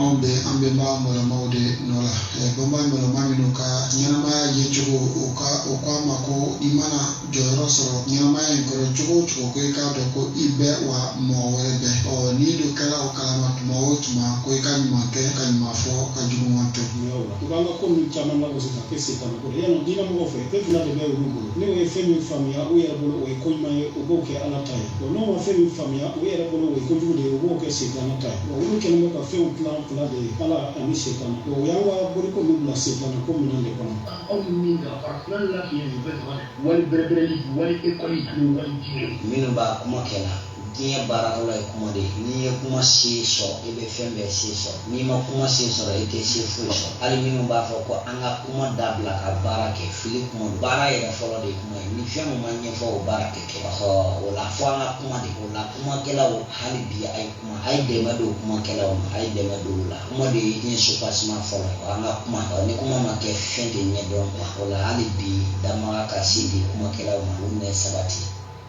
anw bɛ an bɛnba mɔlɔmaw de nɔ la bɛnba mɔlɔma minnu ka ɲɛnamaya ye cogo o ko an ma ko i mana jɔyɔrɔ sɔrɔ ɲɛnamaya in kɔrɔ cogo o cogo ko i k'a dɔn ko i bɛ wa mɔgɔ wɛrɛ bɛ ɔ n'i dun kɛla o kalama tuma o tuma ko i ka ɲuman kɛ ka ɲuman fɔ ka juguman to i b'an ka ko ninnu caman labɔ sisan k'e se t'a la ko yala diinɛ mɔgɔw fɛ e fana de bɛ olu bolo N'u ye fɛn min faamuya u yɛrɛ bolo o ye ko ɲuman ye u b'o kɛ ala ta ye wa n'u ma fɛn min faamuya u yɛrɛ bolo o ye ko jugu de ye u b'o kɛ setana ta ye wa olu kɛlen bɛ ka fɛnw tilan fila de ye ala ani setana wa u y'an ka boliko ninnu bila setana ko minɛn de kɔnɔ aw ni min ka farafina lafiya nin bɛɛ dama wali bɛrɛbɛrɛli wali ekɔli ani wali diinɛ minnu b'a kuma kɛ la Diɲɛ baarakɛla ye kuma de ye. N'i ye kuma se sɔrɔ, i bɛ fɛn bɛɛ se sɔrɔ. N'i ma kuma se sɔrɔ, i tɛ se foyi sɔrɔ. Hali minnu b'a fɔ ko an ka kuma dabila ka baara kɛ, fili kuma don. Baara yɛrɛ fɔlɔ de ye kuma ye. Ni fɛn min ma ɲɛfɔ, o baara tɛ kɛ. Ɔhɔ, o la, fo an ka kuma de. O la, kumakɛlaw, hali bi a ye kuma. A ye dɛmɛ don kumakɛlaw ma. A ye dɛmɛ don u la. Kuma de ye diɲɛ soubassement fɔlɔ ye. Ɔ, an ka kuma. Ɔ, ni kuma ma kɛ, fɛn tɛ ɲɛdɔn quoi. O la, hali bi, danbaga ka si di kumakɛlaw ma, ani sabati.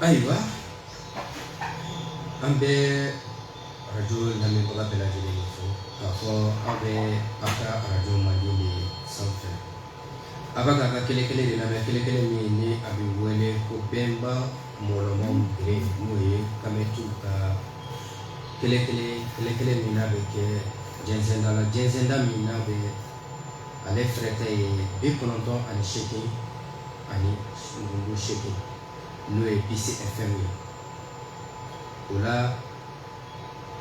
Ayiwa an bɛ arajo lamɛnbaga bɛɛ lajɛlen fo k'a fɔ aw bɛ aw ka arajo mandi sanfɛ a bɛ k'a ka kelen kelen de lamɛn kelen kelen min ni a bɛ wele ko bɛnba mɔlɔma bɛ n'o ye kamitiw ka kelen kelen kelen kelen min bɛ kɛ jɛnsɛnda la jɛnsɛnda min bɛ ale fɛrɛtɛ ye bi kɔnɔntɔn ani seegin ani kunkurun seegin n'o ye bisi FM ye o la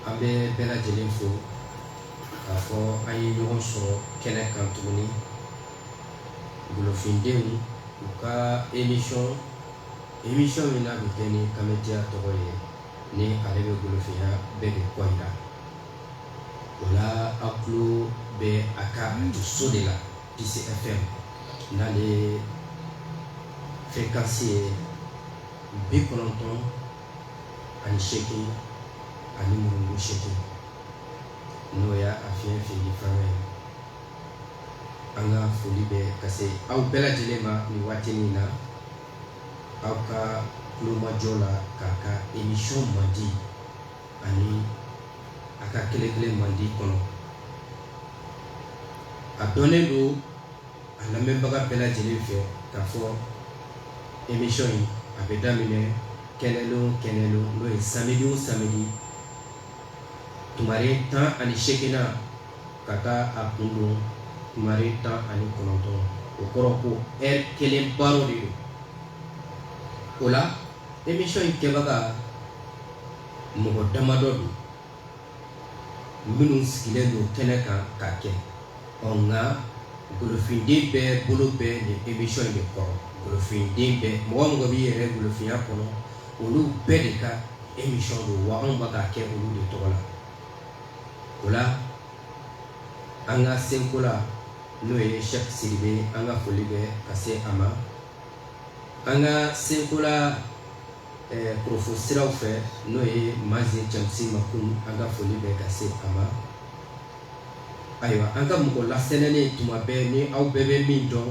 an bɛ bɛɛ lajɛlen fo k'a fɔ an ye ɲɔgɔn sɔrɔ kɛnɛ kan tuguni golofindenw u ka emisɔn emisɔn min n'a bɛ kɛ ni kamitiya tɔgɔ ye ni ale bɛ golofinya bɛɛ de ko jira O la a tulo bɛ a ka to so de la bisi FM n'ale ferekansi ye bi kɔnɔntɔn ani seegin ani muru seegin n'o y'a a fiɲɛ fili fanga ye an ka foli bɛ ka se aw bɛɛ lajɛlen ma nin waati nin na aw ka tulomajɔ la k'a ka emisɔn mandi ani a ka kelen kelen mandi kɔnɔ a dɔnnen don a lamɛnbaga bɛɛ lajɛlen fɛ k'a fɔ emisɔn in a bɛ daminɛ kɛnɛdon o kɛnɛdon n'o ye samidi o samidi tumare tan ani seegin na ka taa a kun don tumare tan ani kɔnɔntɔn o kɔrɔ ko ɛri kelen baro de don o la émission in kɛbaga mɔgɔ damadɔ don minnu sigilen don kɛnɛ kan ka kɛ ɔ nka golofinden bɛɛ bolo bɛ nin émission in de kɔrɔ golofinden bɛɛ mɔgɔ mɔgɔ b'i yɛrɛ golofinya kɔnɔ olu bɛɛ de ka émission don wa anw bɛ k'a kɛ olu de tɔgɔ la o la an ka senkola n'o ye sɛki siribe an ka foli bɛ ka se a ma an ka senkola kurofo siraw fɛ n'o ye mazi cɛsi ma kun an ka foli bɛ ka se a ma ayiwa an ka mɔgɔ lasɛnɛnen tuma bɛɛ ni aw bɛɛ bɛ min dɔn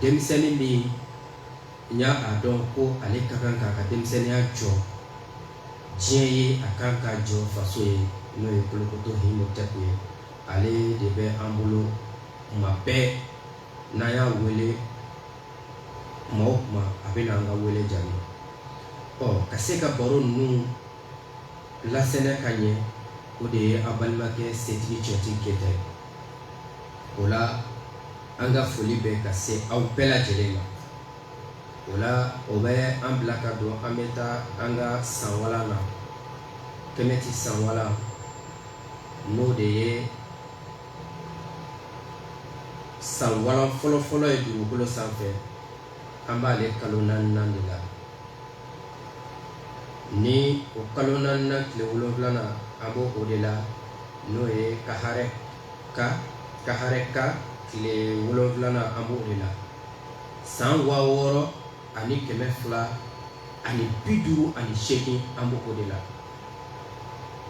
denmisɛnnin min n y'a a dɔn ko ale ka kan k'a ka denmisɛnninya jɔ diɲɛ ye a kan k'a jɔ faso ye n'o ye kolokoto imhotep ye ale de bɛ an bolo tuma bɛɛ N'an y'a wele tuma o tuma a bɛ na an ka wele jaabi ɔ ka se ka baro ninnu lasɛnɛ ka ɲɛ o de ye an balimakɛ setigi cɛti keyita ye o la an ka foli bɛ ka se aw bɛɛ lajɛlen ma o la o bɛ an bila ka don an bɛ taa an ka san walan na kɛmɛti san walan n'o de ye san walan fɔlɔfɔlɔ ye dugukolo sanfɛ an b'ale kalo naaninan de la ni o kalo naaninan tile wolonwulana an b'o o de la n'o ye kahareka kahareka tile wolonwulana an b'o de la san waa wɔɔrɔ ani kɛmɛ fila ani bi duuru ani seegin an bɛ o de la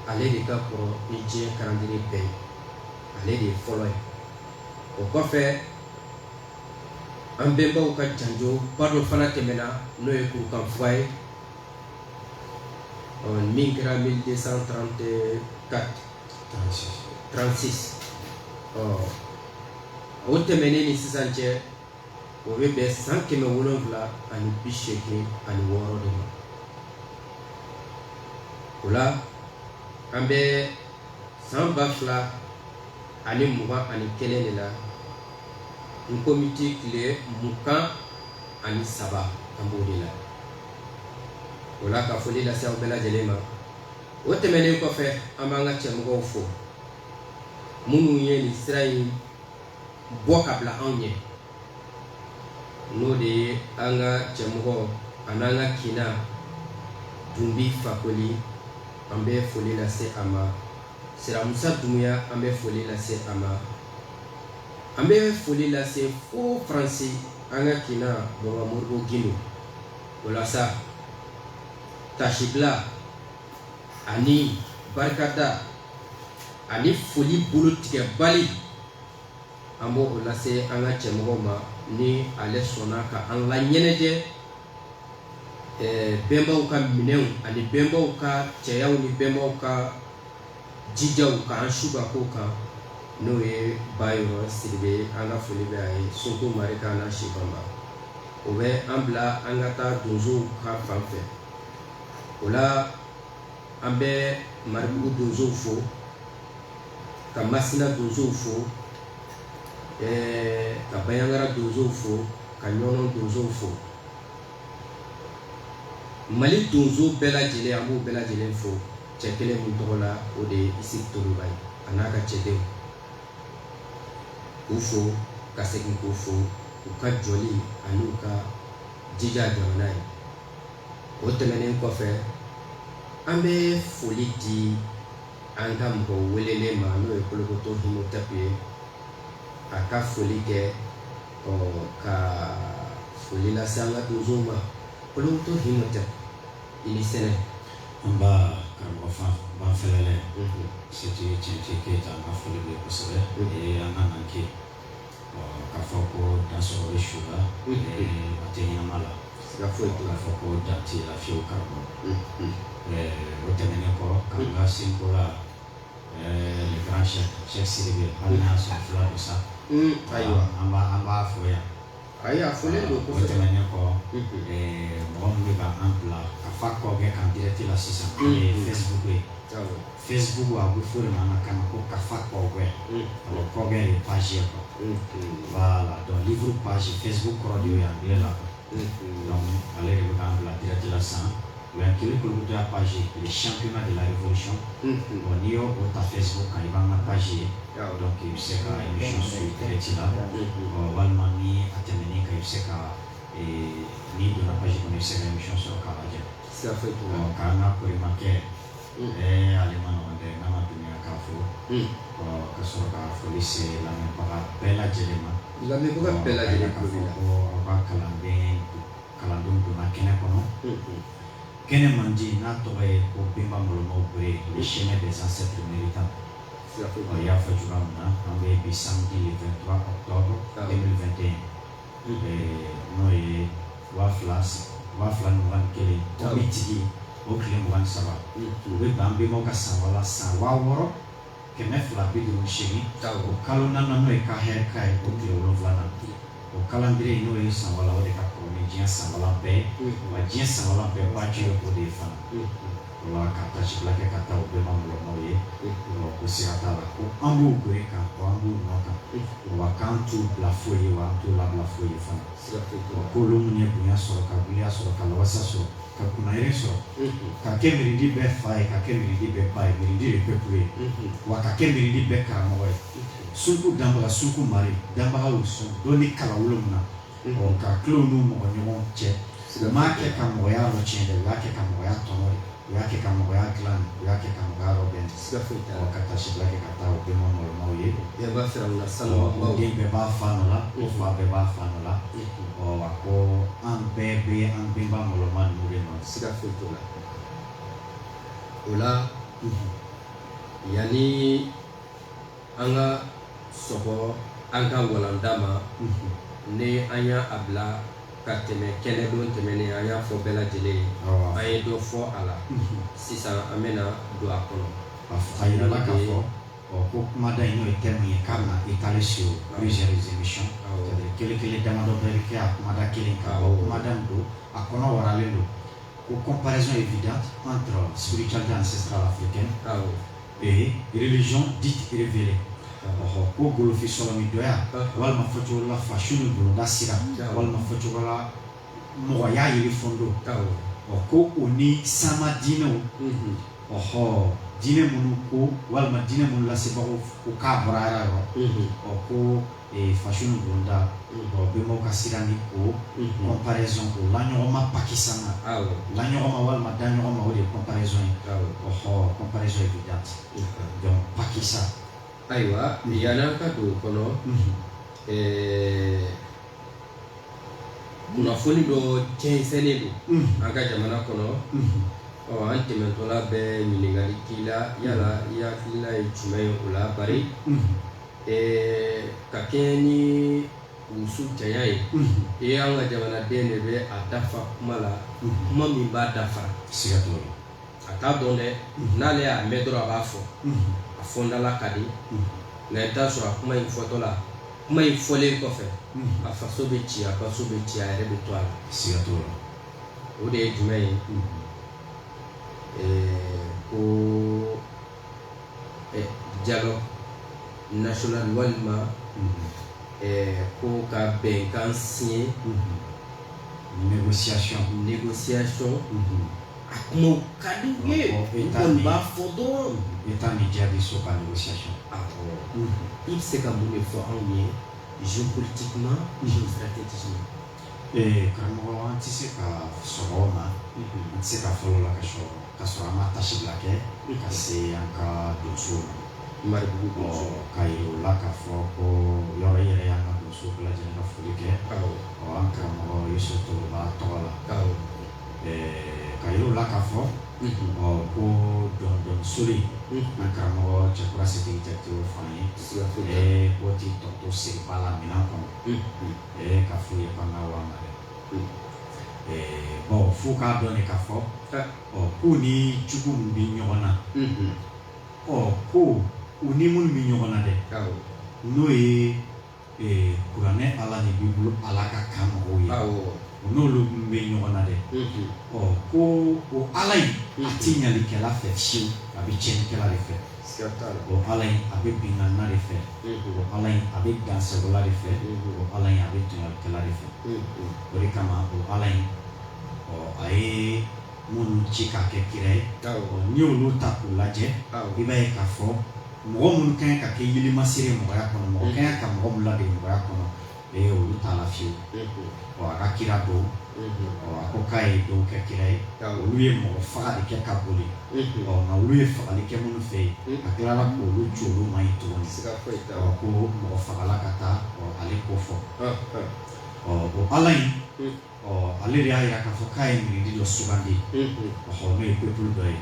ale de ka kɔrɔ ni diɲɛ calendrier bɛɛ ye ale de ye fɔlɔ ye o kɔfɛ an bɛnbaw ka janjo ba dɔ fana tɛmɛna n'o ye kurukan fuga ye min kɛra 1234 36 ɔ o tɛmɛnen ni sisan cɛ o bɛ bɛn san kɛmɛ wolonwula ani bi seegin ani wɔɔrɔ de ma o la an bɛ san ba fila ani mugan ani kelen de la n konbiti tile mugan ani saba an b'o de la o la ka foli lase aw bɛɛ lajɛlen ma o tɛmɛnen kɔfɛ an b'an ka cɛmɔgɔw fo minnu ye nin sira in bɔ ka bila anw ɲɛ n'o de ye an ka ɲɛmɔgɔ an'an ka kina dunbi fakoli an bɛ foli lase a ma siramusa dunbuya an bɛ foli lase a ma an bɛ foli lase fo faransi an ka kina bɔbamuru gdo walasa tasibila ani barikada ani foli bolo tigɛbali an b'o lase an ka ɲɛmɔgɔ ma ni ale sɔnna ka an laɲɛnajɛ bɛnbaw ka minɛnw ani bɛnbaw ka cɛyaw ni bɛnbaw ka jijaw ka an su ka ko kan n'o ye ba yɔrɔ sidibe an ka foli bɛ a ye sogo mari kan na sibanba o bɛ an bila an ka taa donsow ka fan fɛ o la an bɛ maribugu donsow fo ka masina donsow fo eh, ka bayangara donsow fo ka ɲɔnɔn donsow fo mali donso bɛɛ lajɛlen an b'u bɛɛ lajɛlen fo cɛ kelen min tɔgɔ la o de ye isufu toloba ye a n'a ka cɛdenw k'u fo ka segin k'u fo u ka jɔli ani u ka jija jamana ye o tɛmɛnen kɔfɛ an bɛ foli di an ka mɔgɔ welelen ma n'o ye kolokoto imotɛpu ye a ka foli kɛ ɔ ka foli lase an ka donso ma kolokoto imotɛpu i ni sɛnɛ nba karamɔgɔ fan ban fɛlɛ seti cɛnci keyita an ka foli bɛ kosɛbɛ o ye an ka nan kɛ Ka fɔ ko da sɔrɔ bɛ su la a tɛ ɲɛnama la ka foyi tun fɔ ko da tɛ la fiyewu ka bɔ o tɛmɛnen kɔ ka ka sinko la le grand chef sidibe hali n'a y'a sɔrɔ fula don sa ayiwa an an b'a fɔ yan ayi a fɔ donc o tɛmɛnen kɔ mɔgɔ minnu bɛ ka an bila kafa kɔɔgɛ kan direct la sisan ye Facebook ye Facebook a bɛ fɔ de ma an ka kan na ko kafa kɔɔgɛ alors kɔɔgɛ de ye page ye quoi voilà donc livre page Facebook kɔrɔ de y'o ye anglais la quoi donc ale de bɛ k'an bila direct la sisan o y'an kelen kolokoto ya page ye le championnat de la révolution bon n'i y'o o ta Facebook kan i b'an ka page ye donc i bɛ se ka émission suivre direct la ɔ walima ni a tɛmɛn'i kan i bɛ se ka n'i donna page kɔnɔ i bɛ se ka émission sɔrɔ k'a lajɛ siga foyi t'o la k'an ka korimakɛ ɛɛ ale ma nɔgɔn dɛ n'a ma diɲɛ k'a fɔ ɔ ka sɔrɔ ka foli se lamɛnbaga bɛɛ lajɛlen ma lamɛnbaga bɛɛ lajɛlen ka fɔ ko aw ka kalanden kalandenw donna kɛnɛ kɔnɔ kɛnɛ mandi n'a tɔgɔ ye ko bɛnba mɔlɔmaw bere le chemin des ancêtres méritants ɔ i y'a fɔ cogoya min na an bɛ bi samedi le 23 octobre 2021 n'o ye waa fila ni mugan ni kelen konbitigi o tile mugan ni saba o bɛ bɛn bɛnbaw ka san wala san waa wɔɔrɔ kɛmɛ fila bi duuru seegin o kalo naaninan n'o ye ka hɛrɛ ka ye o tile wolonwula na o kalandiriye n'o ye san wala o de ka kɔrɔ ni diɲɛ san wala bɛɛ wa diɲɛ san wala bɛɛ waati o de ye fana Wa ka tasi kɛ ka taa bɛnba mɔlɔmaw ye ko siga t'a la ko an b'u bɔ ka an b'u nɔ kan wa k'an t'u bila foyi ye wa an t'u labila foyi ye fana ko olu minnu ye bonya sɔrɔ ka bonya sɔrɔ ka wasa sɔrɔ ka kunnandiya sɔrɔ ka kɛ miridi bɛɛ fa ye ka kɛ miridi bɛɛ ba ye miridi ye bɛɛku ye wa ka kɛ miridi bɛɛ karamɔgɔ ye suku danbaga suku mari danbagaw sɔn don ni kala wolon min na ka tila u n'u mɔgɔ ɲɔgɔn cɛ u m'a kɛ ka mɔgɔya yɔrɔ tiɲɛ dɛ u y'a kɛ ka mɔgɔya tɔnɔ de u y'a kɛ ka mɔgɔya dilan de u y'a kɛ ka mɔgɔya yɔrɔ bɛn siga foyi t'a la ka tasiba kɛ ka taa u bɛnba mɔlɔmaw ye yɛrɛ b'a jira u la salama den bɛɛ b'a fa nɔ la o fa bɛɛ b'a fa nɔ la ɔ a ko an bɛɛ bɛ an bɛnba mɔlɔma ninnu de nɔ siga foyi t'o la o la yanni an ka sɔgɔ an ka walanda ma ne an y'a bila ka tɛmɛ kɛnɛdon tɛmɛnen an y'a fɔ bɛɛ lajɛlen ye an ye dɔ fɔ a la sisan an bɛna na don a kɔnɔ a jira ka fɔ ko kumada in n'o ye thème ye k'a na étaler sur plusieurs émissions kelen kelen damadɔ bɛ kɛ a kumada kelen ka bon kumada don a kɔnɔ waralen don ko comparaison évidente entre spiritualité ancestrale africaine et religion dite révélée ɔhɔ ko golofin sɔlɔmidɔya walima fɔcogo la fasiw ni bolonda sira walima fɔcogo la mɔgɔya yeli fɔndo ɔ ko o ni sanma diinɛw ɔhɔ diinɛ minnu ko walima diinɛ minnu lasebagaw ko k'a bɔra Ala yɔrɔ ɔ ko fasi bonda bɛnbaw ka sira ni o comparaison o la ɲɔgɔnma pakisan la ɲɔgɔnma walima da ɲɔgɔn ma o de ye comparaison ye comparaison évidente pakisan ayiwa yanni an ka don a kɔnɔ kunnafoni dɔ jɛnsɛnnen don an ka jamana kɔnɔ ɔ an tɛmɛtɔla bɛ ɲininkali k'i la yala i hakilila ye jumɛn ye o la ba ka kɛɲɛ ni muso caya ye e y'an ka jamanaden de bɛ a dafa kuma la kuma min b'a dafa siga a t'a dɔn dɛ n'ale y'a mɛn dɔrɔn a b'a fɔ a fɔdala ka di nka i t'a sɔrɔ a kuma in fɔtɔ la kuma in fɔlen kɔfɛ a faso bɛ ci a faso bɛ ci a yɛrɛ bɛ to a la siga o de ye jumɛn ye ko eh, dialogue national walima eh, ko ka bɛnkan siɲɛ négociation négociation a kumaw ka di u ye u kɔni b'a fɔ dɔrɔn i t'a ni jaabi so ka négociation awɔ i bɛ se ka mun de fɔ anw ye géopolitiquement géostratégiquement Ee karamɔgɔ an tɛ se ka sɔrɔ o ma an tɛ se ka fɔlɔ la ka sɔrɔ ka sɔrɔ an ma taasibila kɛ ka se an ka donso ma maribugu donso ka ye o la ka fɔ ko yɔrɔ in yɛrɛ y'an ka donso bɛɛ lajɛlen ka foli kɛ ɔ an karamɔgɔ yesu toroba tɔgɔ la ka ye o la ka fɔ ɔ ko dɔndɔnsori an karamɔgɔ cɛkura sigi jate fan ye ko tɛ tɔto seriba lamini kɔnɛ ɛɛ ka f'u ye k'an ka wari ma dɛ ɛɛ bɔn f'u k'a dɔn de ka fɔ ɔ k'u ni jugu min bɛ ɲɔgɔn na ɔ ko u ni minnu bɛ ɲɔgɔn na dɛ n'o ye ee kuranɛ ala ni bibulu ala ka ka mɔgɔw ye u n'olu minnu bɛ ɲɔgɔn na dɛ ɔ ko o ala in a tɛ ɲalikɛla fɛ fiyewu a bɛ tiɲɛnikɛla de fɛ ala in a bɛ binana de fɛ ala a bɛ dansagola de fɛ ala a bɛ tɔɲɔla de fɛ o de kama ala in a ye minnu ci k'a kɛ kira ye n'i y'olu ta k'u lajɛ i b'a ye ka fɔ mɔgɔ minnu ka kan ka kɛ yirilimasi mɔgɔya kɔnɔ mɔgɔ ka kan ka mɔgɔ minnu ladege mɔgɔya kɔnɔ ee olu t'a la fiyewu ɔ a ka kira dɔw ɔ a ko k'a ye dɔw kɛ kira ye olu ye mɔgɔ faga de kɛ ka boli ɔ nka olu ye fagali kɛ minnu fɛ yen a tilala k'olu ci olu ma yen tuguni ɔ ko mɔgɔ fagala ka taa ɔ ale ko fɔ ɔ o ala in Ɔ ale de y'a jira k'a fɔ k'a ye miiridi dɔ sugandi ɔ n'o ye peuple dɔ ye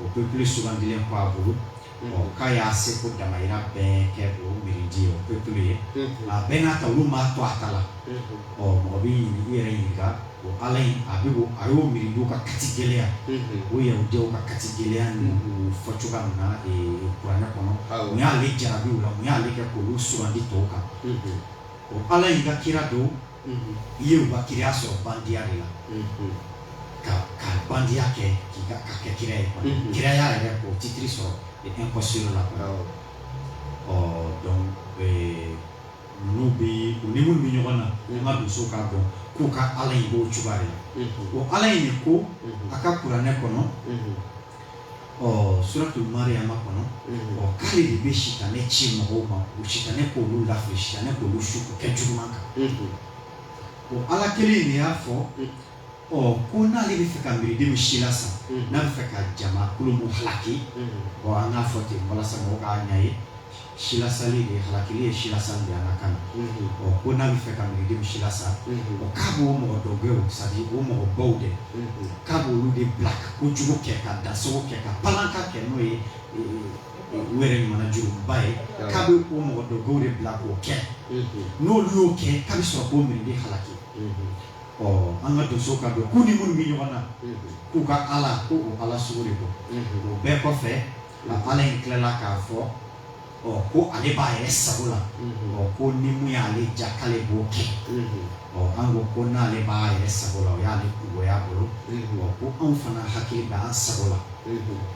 o peuple sugandilen ko a bolo ɔ k'a y'a se ko damahira bɛɛ kɛ o miiridi ye o peuple ye a bɛɛ n'a ta olu ma to a ta la ɔ mɔgɔ bɛ ɲini i yɛrɛ ɲininka o ala in a bɛ a y'o miiridiw ka kati gɛlɛya o yahudiyaw ka kati gɛlɛya ninnu fɔ cogoya min na kuranɛ kɔnɔ u y'ale jarabiw la u y'ale kɛ k'olu sugandi tɔw kan o ala in ka kira don i ye u ka kiraya sɔrɔ bandiya de la ka ka bandiya kɛ k'i ka ka kɛ kira ye kiraya yɛrɛ k'o titiri sɔrɔ et impossible la ɔ donc ninnu bɛ u ni minnu bɛ ɲɔgɔn na an ka donsow k'a dɔn k'u ka ala in b'o cogoya de la o ala in de ko a ka kuranɛ kɔnɔ ɔ suratu mariyama kɔnɔ ɔ k'ale de bɛ sitanɛ ci mɔgɔw ma o sitanɛ k'olu lafili sitanɛ k'olu su k'u kɛ juguman kan o ala kelen de y'a fɔ ɔ ko n'ale bɛ fɛ ka miriden min silasa n'a bɛ fɛ ka jama kulu mun halaki ɔ an k'a fɔ ten walasa mɔgɔw k'a ɲɛ ye silasali de ye halakili ye silasali de ye an ka kan na ɔ ko n'a bɛ fɛ ka miridenw silasa ɔ k'a b'o mɔgɔ dɔ bɛ c'est-à-dire o mɔgɔ baw de k'a b'olu de bila ka kojugu kɛ ka dansagon kɛ ka palanka kɛ n'o ye u yɛrɛ ɲuman jurumuba ye k'a bɛ o mɔgɔ dɔ bɛw de bila k'o kɛ n'olu y'o kɛ k'a bɛ sɔrɔ k'o miriden halaki ɔ an ka donsow k'a dɔn k'u ni minnu bɛ ɲɔgɔn na k'u ka ala ko o ala sugu de don o bɛɛ kɔfɛ Nka ala in tilala k'a fɔ ɔ ko ale b'a yɛrɛ sago la ɔ ko ni mun y'ale diya k'ale b'o kɛ ɔ an ko ko n'ale b'a yɛrɛ sago la o y'ale kunko y'a bolo ɔ ko anw fana hakili bɛ an sago la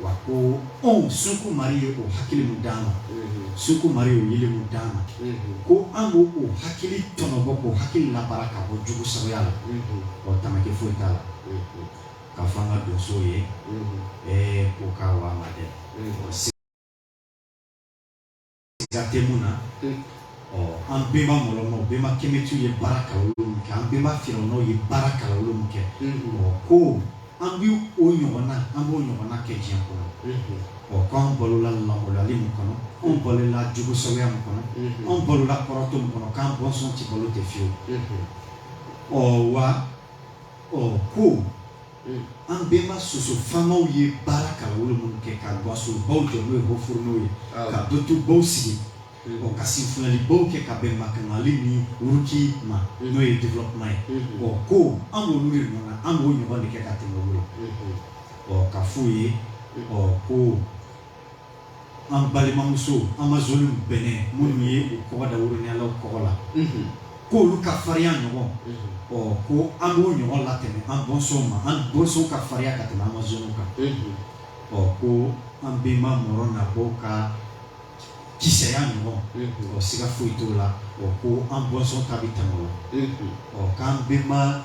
wa ko anw sunkun mari ye o hakili min d'an ma sunkun mari ye o yeelen min d'an ma ko an b'o o hakili tɔnɔbɔ k'o hakili labaara ka bɔ jugu sagoya la ɔ tamaki foyi t'a la ka fɔ an ka donsow ye ɛɛ ko k'a wa ma dɛ siga tɛ mun na ɔ an benba mɔlɔmɔw benba kɛmɛtiw ye baara kalawolo min kɛ an benba firawunaw ye baara kalawolo min kɛ ɔ ko an bɛ o ɲɔgɔnna an b'o ɲɔgɔnna kɛ diɲɛ kɔnɔ ɔ ko an balola lamɔlali min kɔnɔ anw balola jugu sagoya min kɔnɔ anw balola kɔrɔtɔ min kɔnɔ k'an bɔnsɔn tɛ balo ten fiyewu ɔ wa ko an benba soso faamaw ye baara ka wolo minnu kɛ ka gwanso baw jɔ n'o ye haut fourneau ye ka don tu baw sigi ka sifilɛli baw kɛ ka bɛn mali ni wuruki ma n'o ye développement ye ko an olu ye ɲɔgɔn an b'o ɲɔgɔn de kɛ ka tɛmɛ o la ɔ k'a fɔ u ye ko an balimamuso amazones Bénin minnu ye u kɔgɔ da woroɲɛlaw kɔgɔ la k'olu ka farinya ɲɔgɔn ɔ ko an b'o ɲɔgɔn latɛmɛ an bɔnsɔnw ma an bɔnsɔnw ka farinya ka tɛmɛ amazones kan ɔ ko an benba mɔrɔ nabaw ka kisɛya ɲɔgɔn ɔ siga foyi t'o la ɔ ko an bɔnsɔn ta bɛ tɛmɛ o la ɔ k'an benba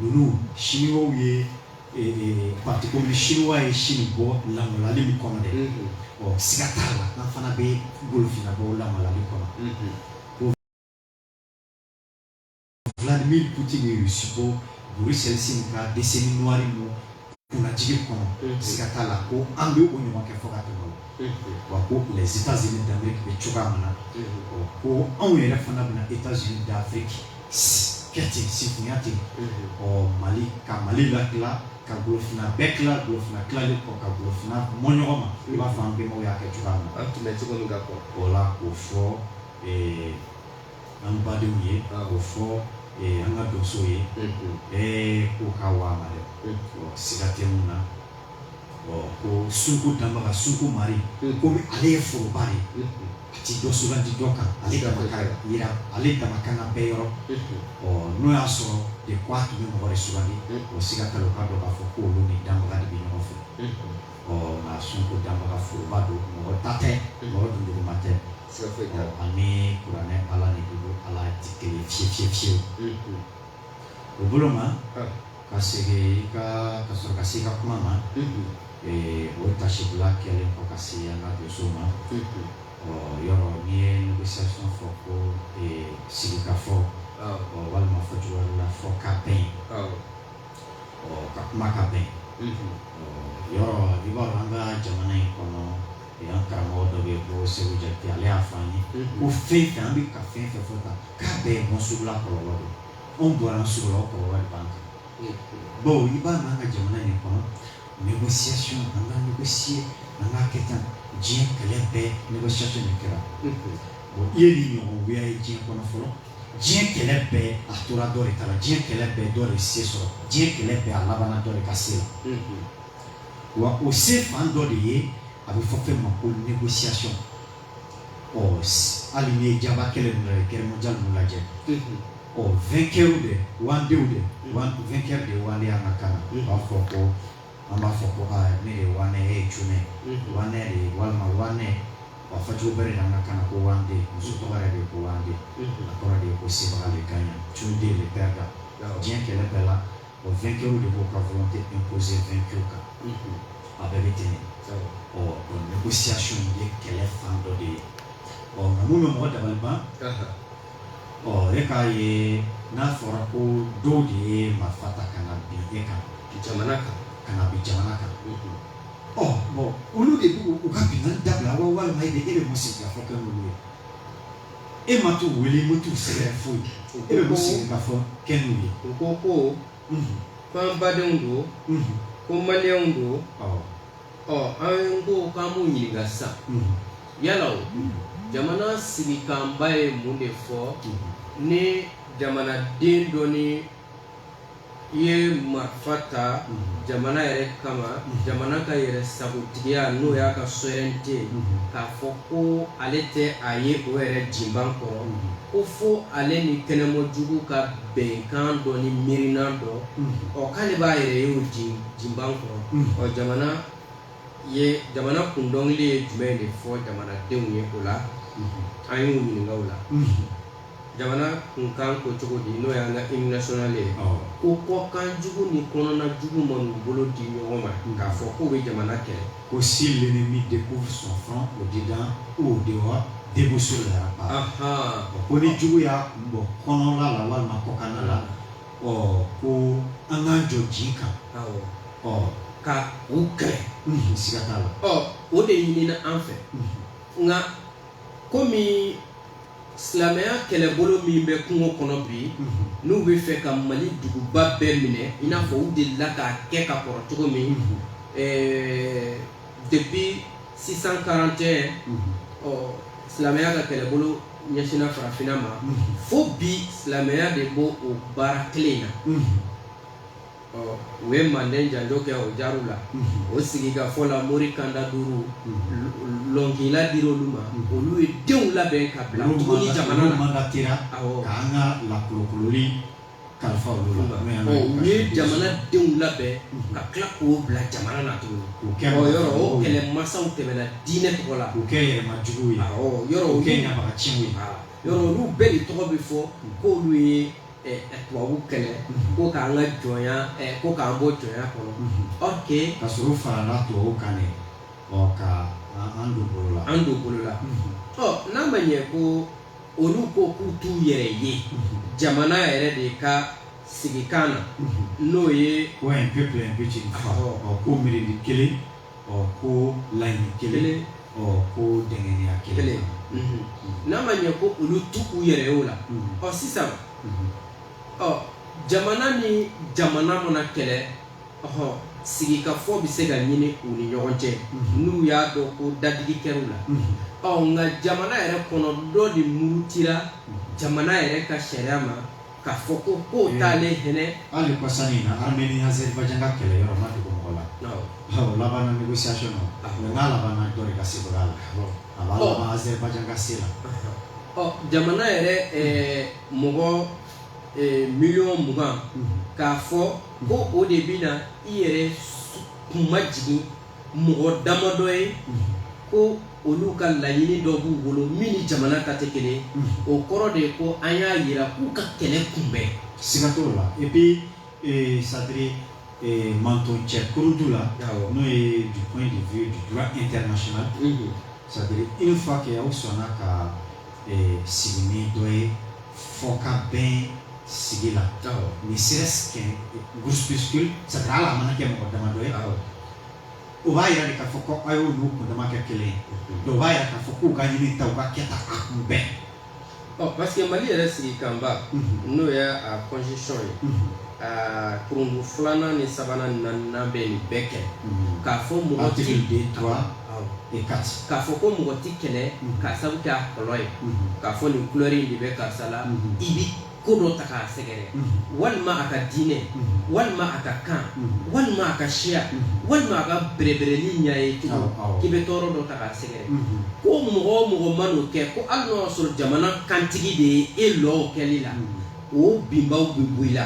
ninnu siniwaw ye parti communiste chinois ye sini bɔ lamaloli min kɔnɔ dɛ ɔ siga t'a la an fana bɛ golofina bɔ lamaloli kɔnɔ Vladimir Putin ye Rusi bɔ Boris Eltsine ka décennie noire kunnajigi kɔnɔ siga t'a la ko an bɛ o ɲɔgɔn kɛ fo ka tɛmɛ o wa ko les États-Unis d'Amérique bɛ cogoya min na ko anw yɛrɛ fana bɛna États-Unis d'Afrique kɛ ten sinfinya ten ɔ Mali ka Mali latila ka golofina bɛɛ tila golofina tilalen kɔ ka golofina mɔ ɲɔgɔn ma i b'a fɔ an bɛnbaw y'a kɛ cogoya min na an tun bɛ cogo min ka kɔrɔ o la k'o fɔ an badenw ye k'o fɔ an ka donso ye bɛɛ ko ka wa dɛ siga tɛ min na ko suku danbaga suku marigi ale ye foroba ye a tɛ dɔ sugandi dɔ kan ale ka jira ale damakan bɛɛ yɔrɔ ɔ n'o y'a sɔrɔ de k' a tun bɛ mɔgɔ sugandi o siga ka dɔn k'a fɔ ko olu ni danbaga de bɛ ɲɔgɔn fɛ ɔ nka suku danbaga foroba don mɔgɔ ta tɛ mɔgɔ dunduguma tɛ siga foyi t'a la an bɛ kuranɛ ala de bolo ala tɛ kelen ye fiye fiyewu Mhm. o bolo ma Ah. ka segin i ka ka sɔrɔ ka se i ka kuma ma Mhm. ee, o taasibila kɛlen kɔ ka se an ka donso ma Mhm. ɔ yɔrɔ n'i ye négociation fɔ ko ee, sigikafɔ Awɔ, ɔ walima fɔ cogo wɛrɛ la fɔ ka bɛn awɔ. ɔ ka kuma ka bɛn Mhm. ɔ yɔrɔ i b'a dɔn an ka jamana in kɔnɔ o y'an karamɔgɔ dɔ bɛ yen ko Seku Jakite ale y'a fɔ an ye ko fɛn fɛn an bɛ ka fɛn fɛn fɔ tan k'a bɛɛ ye Mɔnsugula kɔlɔlɔ de ye anw bɔra yan Sugula o kɔlɔlɔ de b'an kan bawo i b'a mɛn an ka jamana in kɔnɔ négociation an ka négocier an k'a kɛ tan diɲɛ kɛlɛ bɛɛ négociation de kɛra bon i ye nin ɲɔgɔn wuya ye diɲɛ kɔnɔ fɔlɔ diɲɛ kɛlɛ bɛɛ a tora dɔ de ta la diɲɛ kɛlɛ bɛɛ dɔ de se sɔrɔ diɲɛ kɛlɛ bɛɛ a labanna dɔ de ka se la wa o se fan dɔ de ye a bɛ fɔ fɛn ma ko négociation ɔ hali n'i ye jaba kɛlɛ ninnu lajɛ guerre mondiale ninnu lajɛ ɔ vainqueur de wandenw de vainqueur de wande an ka kan na u b'a fɔ ko an b'a fɔ ko aa ne ye wane e ye cunɛ wane de ye walima wane wa fɔcogo wɛrɛ de an ka kan na ko wande muso tɔgɔ yɛrɛ de ye ko wande a kɔrɔ de ye ko sebaga le gagnant cunde le perdant diɲɛ kɛlɛ bɛɛ la vainqueur de b'a ka volonté imposer vaincu kan a bɛɛ bɛ ten négociation ye kɛlɛ fan dɔ de ye ɔ nka minnu bɛ mɔgɔ dabali ban ɔ e k'a ye n'a fɔra ko dɔw de ye marifa ta ka na bin e ka jamana kan ka na bin jamana kan ɔ bɔn olu de b'u u ka binkan dabila wa walima e de e bɛ mun sigikafɔ kɛ n'olu ye e ma t'u wele i ma t'u sɛgɛrɛ foyi u ko e bɛ ko ko- sigikafɔ kɛ n'u ye u ko ko Mhm, ko an badenw don mhm, ko maliyɛnw don awɔ, ɔ an ko k'an b'u ɲininka sisan mhm, yala o mhm, jamana sigikanba ye mun de fɔ mhm. ni jamanaden dɔ ni i ye marifa ta jamana yɛrɛ kama jamana ka yɛrɛ sagotigiya n'o y'a ka souveraineté k'a fɔ ko ale tɛ a ye o yɛrɛ jinba kɔnɔ ko fo ale ni kɛnɛmɔjugu ka bɛnkan dɔ ni miirina dɔ ɔ k'ale b'a yɛrɛ ye o jinba kɔnɔ ɔ jamana jamana kun dɔnkili ye jumɛn de fɔ jamanadenw ye o la an y'u ɲininka o la Jamana kunkan ko cogo di n'o y'an ka hymne national ye, awɔ, ko kɔkan jugu ni kɔnɔna jugu man'u bolo di ɲɔgɔn ma k'a fɔ k'u bɛ jamana kɛlɛ, ko si l'ennemi découvre son front au dedans ou au dehors debout sur les remparts, anhan, ko ni jugu y'a kun bɔ kɔnɔna la walima kɔkanna la, ɔ ko an k'an jɔ jin kan, awɔ, ɔ ka u kɛlɛ, unhun, siga t'a la, ɔ o de ɲinina an fɛ, unhun, nka komi silamɛya kɛlɛbolo min bɛ kungo kɔnɔ bi mhm. n'u b'a fɛ ka mali duguba bɛɛ minɛ i n'a fɔ u delila k'a kɛ ka kɔrɔ cogo min mhm. eh, depuis 641 mhm. ɔ silamɛya ka kɛlɛbolo ɲɛsinna farafinna ma fo bi silamɛya de b'o baara kelen in na u ye manden janjo kɛ o jaw la o sigikafɔ la mori kanda duuru lɔnkila dira olu ma olu ye denw labɛn ka bila jamana kalifa u ye jamanadenw labɛn ka tila k'u bila jamana na tuguni yɔrɔ o kɛlɛmasaw tɛmɛna diinɛ tɔgɔ la kɛ yɛlɛma jugu ye yɔrɔ kɛ ɲama ci ye yɔrɔ olu bɛɛ de tɔgɔ bɛ fɔ k'olu ye tubabu kɛlɛ ko k'an ka jɔnya ko k'an bɔ jɔnya kɔnɔ ok ka sɔrɔ u farala tubabu kan dɛ ɔ ka an don bolo la an don bolo la ɔ n'a ma ɲɛ ko olu ko k'u t'u yɛrɛ ye jamana yɛrɛ de ka sigikan na n'o ye ko un peuple un but ko mirindi kelen ɔ ko laɲini kelen ɔ ko dɛnkɛnɛya kelen n'a ma ɲɛ ko olu t'u yɛrɛ ye o la ɔ sisan ɔ jamana ni jamana mana kɛlɛ ɔhɔn sigikafɔ bɛ se ka ɲini u ni ɲɔgɔn cɛ n'u y'a dɔn ko dadigi kɛra u la ɔ nka jamana yɛrɛ kɔnɔ dɔ de murutira jamana yɛrɛ ka sariya ma K'a fɔ ko ko taalen ɲɛ hali kɔsan in na Arménie Azerbaïdjan ka kɛlɛ yɔrɔ ma dogo mɔgɔ la, awɔ, o laban na négociation na, mais n'a laban na dɔ de ka se la, a b'a laban Azerbaïdjan ka se la, ɔ jamana yɛrɛ ɛɛ mɔgɔ miliyɔn mugan k'a fɔ ko o de bɛna i yɛrɛ kunmajigin mɔgɔ damadɔ ye ko olu ka laɲini dɔ b'u bolo min ni jamana ta tɛ kelen ye o kɔrɔ de ye ko an y'a jira k'u ka kɛlɛ kun bɛ siga t'o la et puis euh, c'est à dire euh, manton cɛ kurundu la Awɔ. n'o ye du point de vue du droit international Mhm. c'est à dire une fois que aw sɔnna ka ee sigi ni dɔ ye fo ka bɛn sigi la ni sira kɛ groupuscule sara hali a mana kɛ mɔgɔ damadɔ ye o b'a jira de k'a fɔ ko a y'olu kundama kɛ kelen ye o b'a jira k'a fɔ k'u ka ɲinita u ka kɛta a kun bɛ ɔ parce que mali yɛrɛ sigikanba n'o ye a constitution ye aa kurundu filanan ni sabanan ni naaninan bɛ nin bɛɛ kɛ k'a fɔ mɔgɔ tigi de tora k'a fɔ ko mɔgɔ tɛ kɛlɛ k'a sabu kɛ a golo ye k'a fɔ nin kulɛri de bɛ karisa la i bɛ ko dɔ ta k'a sɛgɛrɛ walima a ka diinɛ walima a ka kan walima a ka siya walima a ka bɛrɛbɛrɛli ɲɛ ye cogo k'i bɛ tɔɔrɔ dɔ ta k'a sɛgɛrɛ ko mɔgɔ o mɔgɔ mana o kɛ ko hali n'o y'a sɔrɔ jamana kantigi de ye e lɔ kɛli la o binbaw bɛ boli la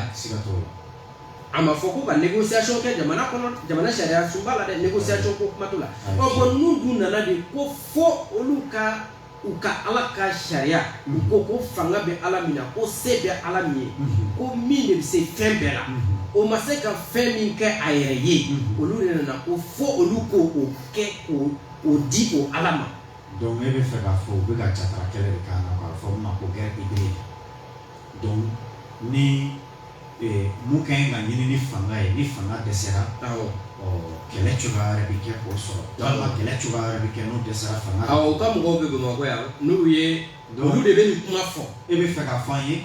A ma fɔ ko ka négociation kɛ jamana kɔnɔ jamana sariyasunba la dɛ négociation ko kuma t'o la ayi ɔ bon n'u dun nana de ko fo olu ka u ka Ala ka sariya u ko ko fanga bɛ Ala min na ko se bɛ Ala min ye unhun ko min de bɛ se fɛn bɛɛ la unhun o ma se ka fɛn min kɛ a yɛrɛ ye unhun olu de nana ko fo olu k'o o kɛ k'o o di o Ala ma donc e bɛ fɛ k'a fɔ u bɛ ka jatara kɛlɛ de k'an na k'a fɔ n ma ko guerre hybride donc ni mun ka ɲi ka ɲini ni fanga ye ni fanga dɛsɛra kɛlɛ cogoya wɛrɛ bɛ kɛ k'o sɔrɔ walima kɛlɛ cogoya wɛrɛ bɛ kɛ n'o dɛsɛra fanga la u ka mɔgɔw bɛ Bamakɔ yan n'u ye olu de bɛ nin kuma fɔ e bɛ fɛ k'a fɔ an ye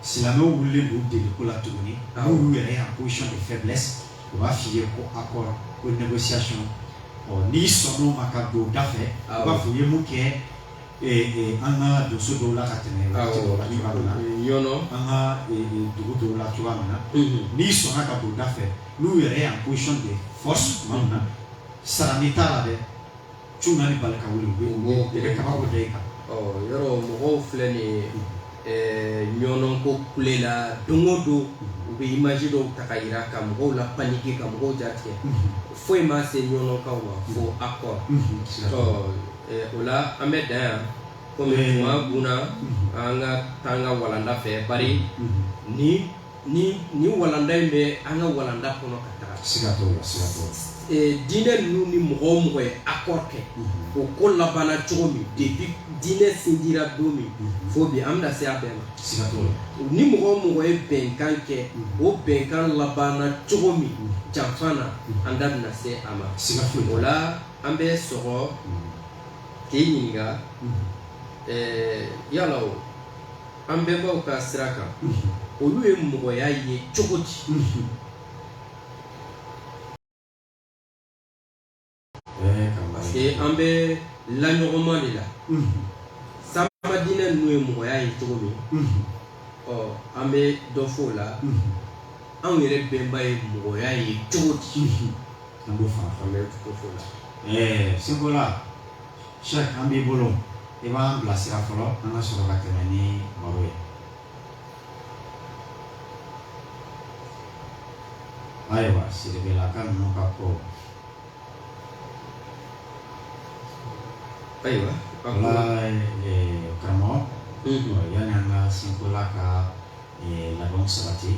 silamɛw wulilen don deliko la tuguni n'olu yɛrɛ ye en position de faiblesse u b'a f'i ye ko accord ko négociation n'i sɔnn'o ma ka don u da fɛ u b'a fɔ u ye mun kɛ ee an ka donso dɔw la ka tɛmɛ la yɔrɔ an ka dugu dɔw la cogoya min na n'i sɔnna ka don u da fɛ n'u yɛrɛ ye en position de force tuma min na sara n'i t'a la dɛ tuguni bali ka wuli u bɛ u bɛ kaba bɔ da i kan yɔrɔ mɔgɔw filɛ nin ye ɲɔnɔnkaw kule la don o don u bɛ image dɔw ta ka yira ka mɔgɔw la paniquer ka mɔgɔw jatigɛ foyi ma se ɲɔnɔnkaw ma fo accord o la an bɛ dan yan kɔmi tuma gna an ka taa an ka walanda fɛ bari ni walanda in bɛ an ka walanda kɔnɔ ka taa siga diinɛ ninnu ni mɔgɔ o mɔgɔ ye accord kɛ o ko labanna cogo min depuis diɲɛ sindira don min fo bi an bɛna se a bɛɛ ma siga ni mɔgɔ o mɔgɔ ye bɛnkan kɛ o bɛnkan labanna cogo min janfa na an da bɛna se a ma siga o la an bɛ sɔrɔ k'i ɲininka yala o an bɛnbaw ka sira kan olu ye mɔgɔya ye cogo di parce que an bɛ laɲɔgɔnma de la sanba diinɛ ninnu ye mɔgɔya ye cogo min ɔ an bɛ dɔ fɔ o la anw yɛrɛ bɛnba ye mɔgɔya ye cogo di an bɛ fara fara ko fɔ la ɛɛ sinkola sɛki an b'i bolo i b'an bilasira fɔlɔ an ka sɔrɔ ka tɛmɛ ni baro ye ayiwa siribelaka ninnu ka ko ayiwa wala karamɔgɔ yanni an ka sinkola ka labɛnw sabati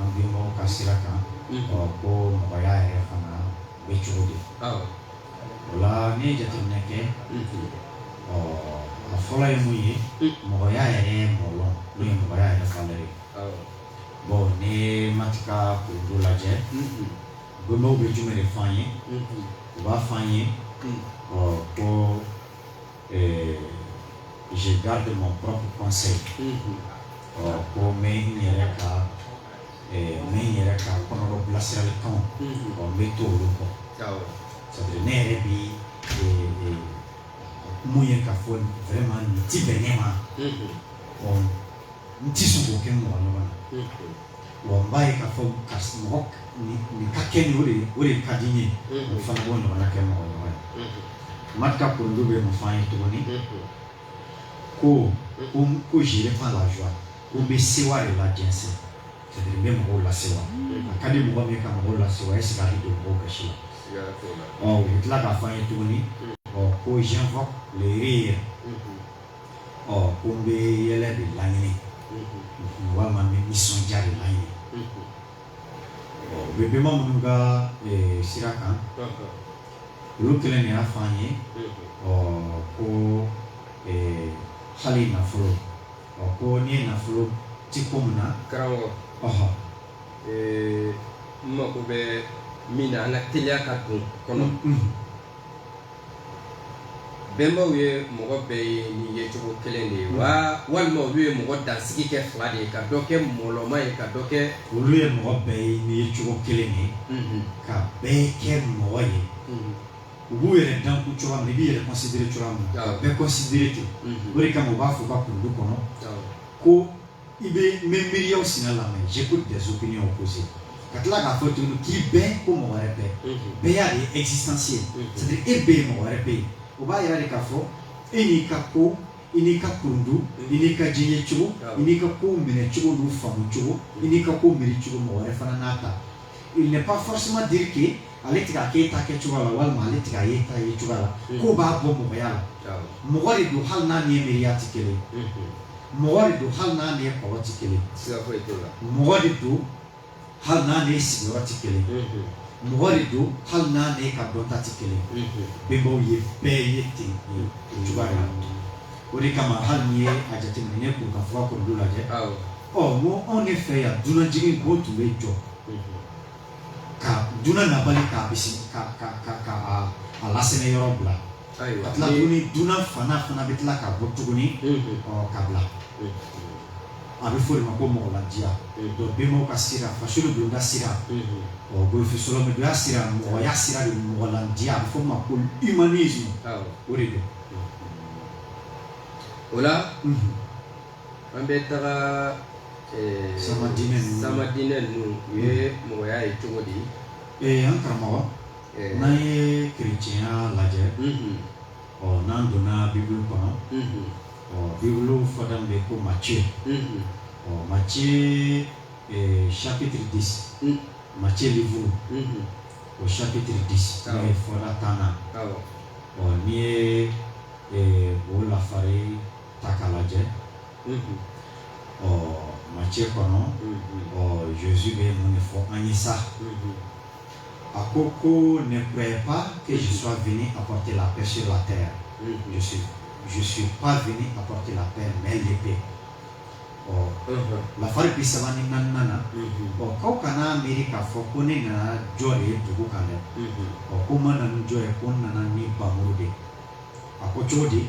an bɛnbaw ka sira kan ko mɔgɔya yɛrɛ fana bɛ cogo di wala ne ye jateminɛ kɛ ɔ a fɔlɔ ye mun ye mɔgɔya yɛrɛ ye mɔgɔ n'o ye mɔgɔya yɛrɛ fa ye bon n'i ye Maat ka code lajɛ bɛnbaw bɛ jumɛn de fɔ an ye u b'a fɔ an ye ɔ ko euh, je garde mon propre conseil ɔ ko n bɛ n yɛrɛ ka euh, n bɛ n yɛrɛ ka kɔnɔdɔ bilasiralikanw ɔ n bɛ to olu kɔ c'est à dire ne yɛrɛ bi euh, euh, min ye k'a fɔ vraiment nin ti bɛn ne ma ɔ n ti sɔn k'o kɛ n mɔgɔ ɲɔgɔn na. walayi k'a fɔ karisa mɔgɔ nin ka kɛ nin o de o de ka di n ye o fana b'o ɲɔgɔnna kɛ mɔgɔ ɲɔgɔn ye Maat ka code bɛ mun fɔ an ye tuguni ko ko ko je répands la joie ko n bɛ sewa de lajɛnsɛn c'est à dire n bɛ mɔgɔw lasewa a ka di mɔgɔ min ye ka mɔgɔw lasewa est ce que a bɛ don mɔgɔw ka si la ɔ u bɛ tila k'a fɔ an ye tuguni ɔ ko j'invoque le rire ɔ ko n bɛ yɛlɛ de laɲini walima n bɛ nisɔndiya de laɲini ɔ an bɛ bɛnba minnu ka eh, sira kan olu kelen de y'a fɔ an ye ɔ ko eh, hali nafolo ɔ ko n'i ye nafolo ti ko min na karamɔgɔ ɔhɔ ee, n mago bɛ min na an ka teliya ka don kɔnɔ Mhm. bɛnbaw ye mɔgɔ bɛɛ ye ni ye cogo kelen de ye wa walima olu ye mɔgɔ dansigi kɛ fila de ye ka dɔ kɛ mɔlɔma ye ka dɔ kɛ olu ye mɔgɔ bɛɛ ye ni ye cogo kelen de ye mhm. ka bɛɛ kɛ mɔgɔ ye mhm. u b'u yɛrɛ danku cogoya min na i b'i yɛrɛ considérer cogoya min na bɛɛ considérer ten mhm. o de kama u b'a fɔ u ka kurundu kɔnɔ ko i bɛ n bɛ miiriyaw sina lamɛn j'écoute des opinions opposées ka tila k'a fɔ tuguni k'i bɛ yen ko mɔgɔ wɛrɛ bɛ yen bɛyenya de ye existence ye c'est à dire e bɛ yen mɔgɔ wɛrɛ bɛ yen o b'a yira de k'a fɔ e n'i ka ko i n'i ka kurundu i n'i ka diɲɛ cogo i n'i ka kow minɛ cogo n'u faamu cogo i n'i ka kow miiri cogo mɔgɔ wɛrɛ fana n'a ta il n'est pas forcément dire que ale tɛ k'a k'e ta kɛ cogoya la walima ale tɛ k'a y'e ta ye cogoya la mm. k'o b'a bɔ mɔgɔya la mɔgɔ de don hali n'a n'i miiriya tɛ kelen mm-hmm. mɔgɔ de don hali n'a n'i kɔrɔ tɛ kelen mɔgɔ de don hali n'a n'i sigiyɔrɔ tɛ kelen mm-hmm. mɔgɔ de don hali n'a n'i ka dɔnta tɛ kelen mm-hmm. bɛnbaw ye bɛɛ ye ten o cogoya la o de kama hali n'i ye a jateminɛ n'i ye Kurukanfuga kurundu lajɛ ɔ n ko anw de fɛ yan dunanjigin ko tun bɛ jɔ ka dunan nabalo k'a bisi ka ka ka ka a a lasɛmɛ yɔrɔ bila ayiwa ka tila ni- tuguni dunan fana fana bɛ tila ka bɔ tuguni Mhm. ɔ ka bila a bɛ fɔ o de ma ko mɔgɔladiya Mhm. donc bɛnbaw ka sira fasolo don ka sira Mhm. ɔ golofin sɔlɔmɛdonya sira mɔgɔya sira de mɔgɔladiya a bɛ fɔ o ma ko humanisme awɔ o de don o la Mhm. an bɛ taga sama diinɛ sama diinɛ ninnu u ye mɔgɔya ye cogo di ee an karamɔgɔ n'an ye kerecɛnya lajɛ ɔ n'an donna bibulu kɔnɔ ɔ bibulu fɔda bɛ ko macɛ ɔ macɛ chapitre dix macɛ livre o chapitre dix ye fɔda tannan ɔ n'i ye o lafari ta k'a lajɛ ɔ macɛ kɔnɔ ɔ Jésus bɛ mun de fɔ an ye sa a ko ko ne croyez pas que je sois venu apporter la paix sur la terre je suis je suis pas venu apporter la paix mais l'épée ɔ lafari bi saba ni naaninan na ɔ k'aw kana miiri k'a fɔ ko ne nana jɔ de ye dugu kan dɛ ɔ ko n ma na ni jɔ ye ko n nana ni npanmuru de ye a ko cogo di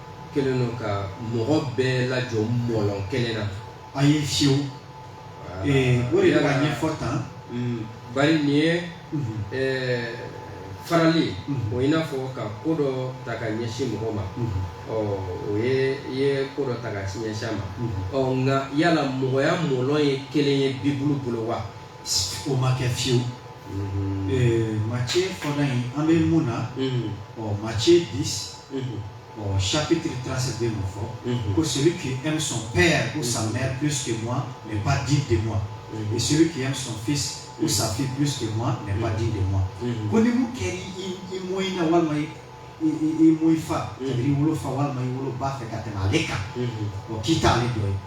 kelen don ka mɔgɔ bɛɛ lajɔ mɔlɔn kelen na a ye fiyewu o de ka ɲɛfɔ tan mm, bari nin ye mhm. farali mhm. o i n'a fɔ ka ko dɔ ta ka ɲɛsin mɔgɔ ma mhm. o ye i ye ko dɔ ta ka ɲɛsin a ma ɔ nka yala mɔgɔya mɔlɔn ye kelen ye bibulu bolo wa o ma kɛ fiyewu mm. Matthieu fɔda in an bɛ mun na ɔ Matthieu dix saptigiig taa se den ma fɔ ko seli k e bɛ sɔn bɛɛ yan ko san p que ma nin ba di de ma o seli k' sɔn fi ko sanfi p que ma nin ba di de ma ko ni min kɛ i mɔ in na walima ye i mɔ i fa i wolo fa walima i wolo ba fɛ ka tɛmɛ ale kan o k'i taa ale dɔ ye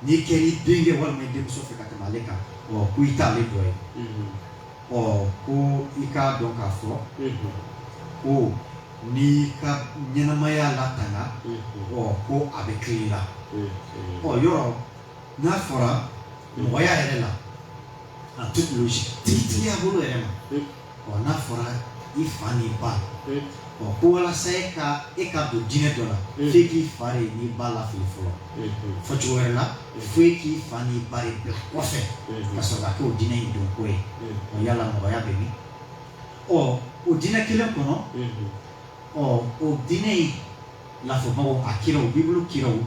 n'i kɛ i denkɛ walima i denmuso fɛ ka tɛmɛ ale kan ko i taa ale dɔ ye Ɔ ko i k'a dɔn k'a fɔ ko n'i ka ɲɛnamaya latanga ɔ ko a bɛ fili i la ɔ yɔrɔ n'a fɔra mɔgɔya yɛrɛ la a tigitigiya bolo yɛrɛ ma ɔ n'a fɔra i fa n'i ba ɔ ko walasa e ka e ka don diinɛ dɔ la e k'i fa n'i ba lafili fɔlɔ fɔ cogo wɛrɛ la o fo e k'i fa n'i ba de bila kɔfɛ ka sɔrɔ ka kɛ o diinɛ in don ko ye o yala mɔgɔya bɛ min ɔ o diinɛ kelen kɔnɔ ɔ o diinɛ in lafɔbagaw a kiraw bibulu kiraw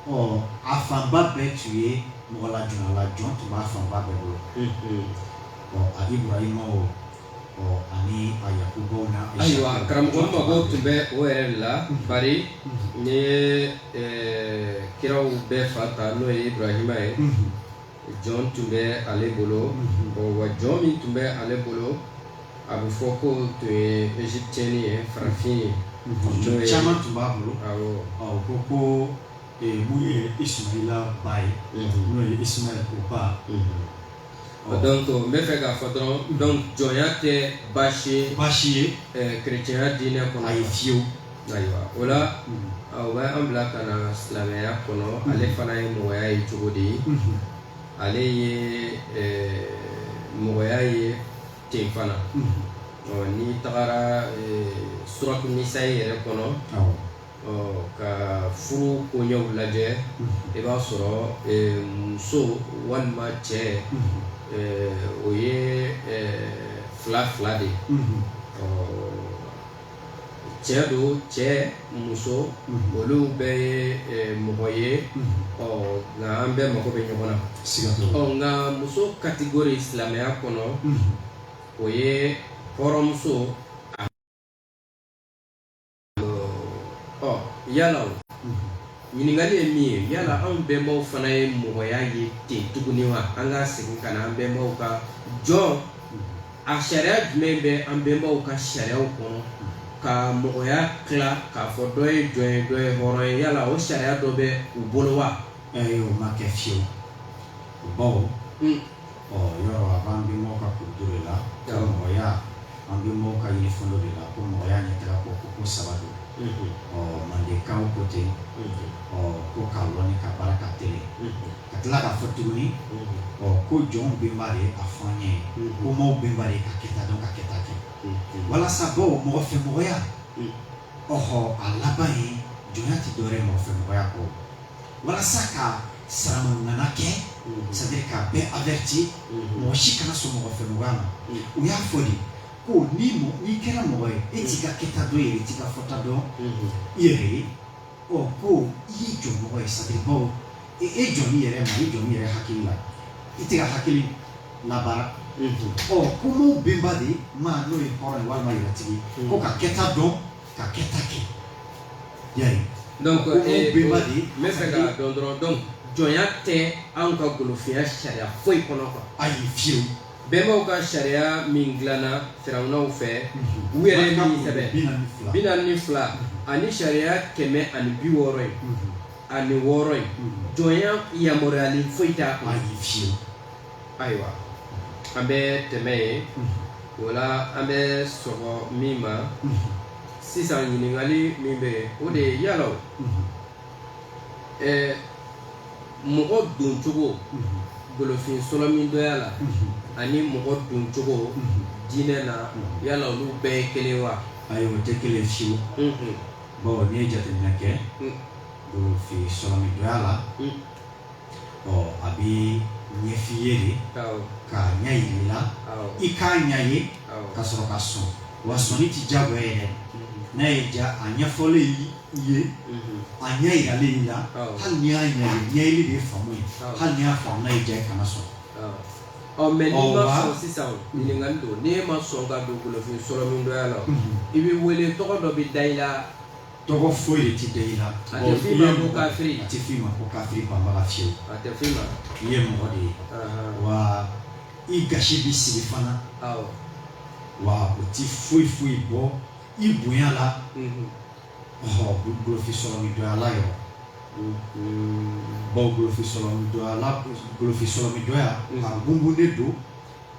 ɔ a fanba bɛɛ tun ye mɔgɔ lajɔnyala jɔn tun b'a fanba bɛɛ bolo ɔ a ibrahima o ayiwa karamɔgɔ n mago tun bɛ o yɛrɛ de la bari n'i ye kiraw bɛɛ fa ta n'o ye iburahima ye jɔn tun bɛ ale bolo wa jɔn min tun bɛ ale bolo a bɛ fɔ ko tun ye égyptienne ye farafin ye jɔn caman tun b'a bolo awɔ ko ko min ye ismaila ba ye n'o ye ismail ko ba O donc n b'a fɛ k'a fɔ dɔrɔn donc jɔnya tɛ baasi ye kerecɛnya diinɛ kɔnɔ yen fiyewu ayiwa o la o bɛ an bila ka na silamɛya kɔnɔ ale fana ye mɔgɔya ye cogo di ale ye mɔgɔya ye ten fana n'i tagara suratu nisai yɛrɛ kɔnɔ ɔ ka furu koɲɛw lajɛ i b'a sɔrɔ muso walima cɛ o ye fila fila de ye ɔ cɛ donc cɛ muso olu bɛɛ ye mɔgɔ ye ɔ nka an bɛɛ mago bɛ ɲɔgɔn na ɔ nka muso catégorie silamɛya kɔnɔ o ye hɔrɔnmuso ɔ yala o ɲininkali ye min ye yala anw bɛnbaw fana ye mɔgɔya ye ten tuguni wa an ka segin ka na an bɛnbaw ka jɔnya sariya jumɛn bɛ an bɛnbaw ka sariyaw kɔnɔ ka mɔgɔya tila k'a fɔ dɔ ye jɔn ye dɔ ye hɔrɔn ye yala o sariya dɔ bɛ u bolo wa ayi o ma kɛ fiyewu baw Ɔ yɔrɔ a b'an bɛnbaw ka kurundu de la, mɔgɔya an bɛnbaw ka ye fɔlɔ de la ko mɔgɔya ɲɛtaga ko ko ko saba don, unhun, ɔ mandenkaw ko ten, unhun, ɔ ko ka lɔnni ka baara ka telen, unhun, ka tila k'a fɔ tuguni, unhun, ɔ ko jɔnw bɛnba de ye a fɔ an ɲɛ, unhun, ko maaw bɛnba de ye ka kɛta dɔn ka kɛta kɛ, unhun, walasa bawo mɔgɔfɛmɔgɔya, unhun, ɔhɔ a laban ye jɔnya tɛ dɔwɛrɛ ye mɔgɔfɛmɔgɔya kɔ walasa ka saramanana kɛ c'est-à-dire ka bɛɛ avɛriti mɔgɔ si kana sɔn mɔgɔfɛmɔgɔya ma u y'a fɔ de ko ni n'i kɛra mɔgɔ ye e t'i ka kɛta dɔn yɛrɛ t'i ka fɔta dɔn i yɛrɛ ye ɔ ko i ye jɔn mɔgɔ ye c'est-à-dire baw e, e jɔn min yɛrɛ ma e jɔn min yɛrɛ hakili la i tɛ ka hakili labaara ɔ ko mɔgɔ bɛnba de maa n'o ye hɔrɔn ye walima yɛrɛtigi ko ka kɛta dɔn ka kɛta kɛ i y'a ye donc ko ee, bɛnba de n bɛ fɛ ka dɔn dɔrɔn donc jɔnya tɛ anw ka golofinya sariya foyi kɔnɔ quoi ayi fiyewu bɛnbaw ka sariya min dilanna firawunaw fɛ mhm. u yɛrɛ ye min sɛbɛn bi naani ni fila mhm. ani sariya kɛmɛ ani bi wɔɔrɔ ye mhm. ani wɔɔrɔ ye jɔnya yamaruyalen foyi t'a kɔnɔ ayi fiyewu ayiwa an bɛ tɛmɛ yen o la an bɛ se ko min ma sisan ɲininkali min bɛ yen o de ye yala ɛɛ mɔgɔ doncogo golofin sɔlɔmindɔya la ani mɔgɔ doncogo diinɛ na yala olu bɛɛ ye kelen wa ayi o tɛ kelen fiyewu bawo n'i ye jateminɛ kɛ golofin sɔlɔmindɔya la ɔ a bɛ ɲɛfɔ i ye de k'a ɲɛyira i la i k'a ɲɛ ye ka sɔrɔ ka sɔn wa sɔnni tɛ jagoya ye dɛ n'a y'i diya a ɲɛfɔlen i ye a ɲɛyiralen i la hali n'i y'a ɲɛ ye ɲɛyeli de faamu ye hali n'i y'a faamu n'a y'i diya i kana sɔn ɔ mɛ sisan ɲininka k'a dɔn n'i ma sɔn ka don golofin sɔlɔmindɔya la i bɛ wele tɔgɔ dɔ bɛ da i la tɔgɔ foyi de ti da i la A tɛ f'i ma ko kafiri. a tɛ f'i ma ko kafiri banbaga fiyewu a tɛ f'i ma i ye mɔgɔ de ye Ahan. wa i gasi bɛ sigi fana awɔ wa o ti foyi foyi bɔ i bonya la Mhm. ɔhɔ golofin sɔlɔmindɔya la yɔrɔ Mhm. baw golofin sɔlɔmindɔya la golofin sɔlɔmindɔya Mhm. a gungunnen don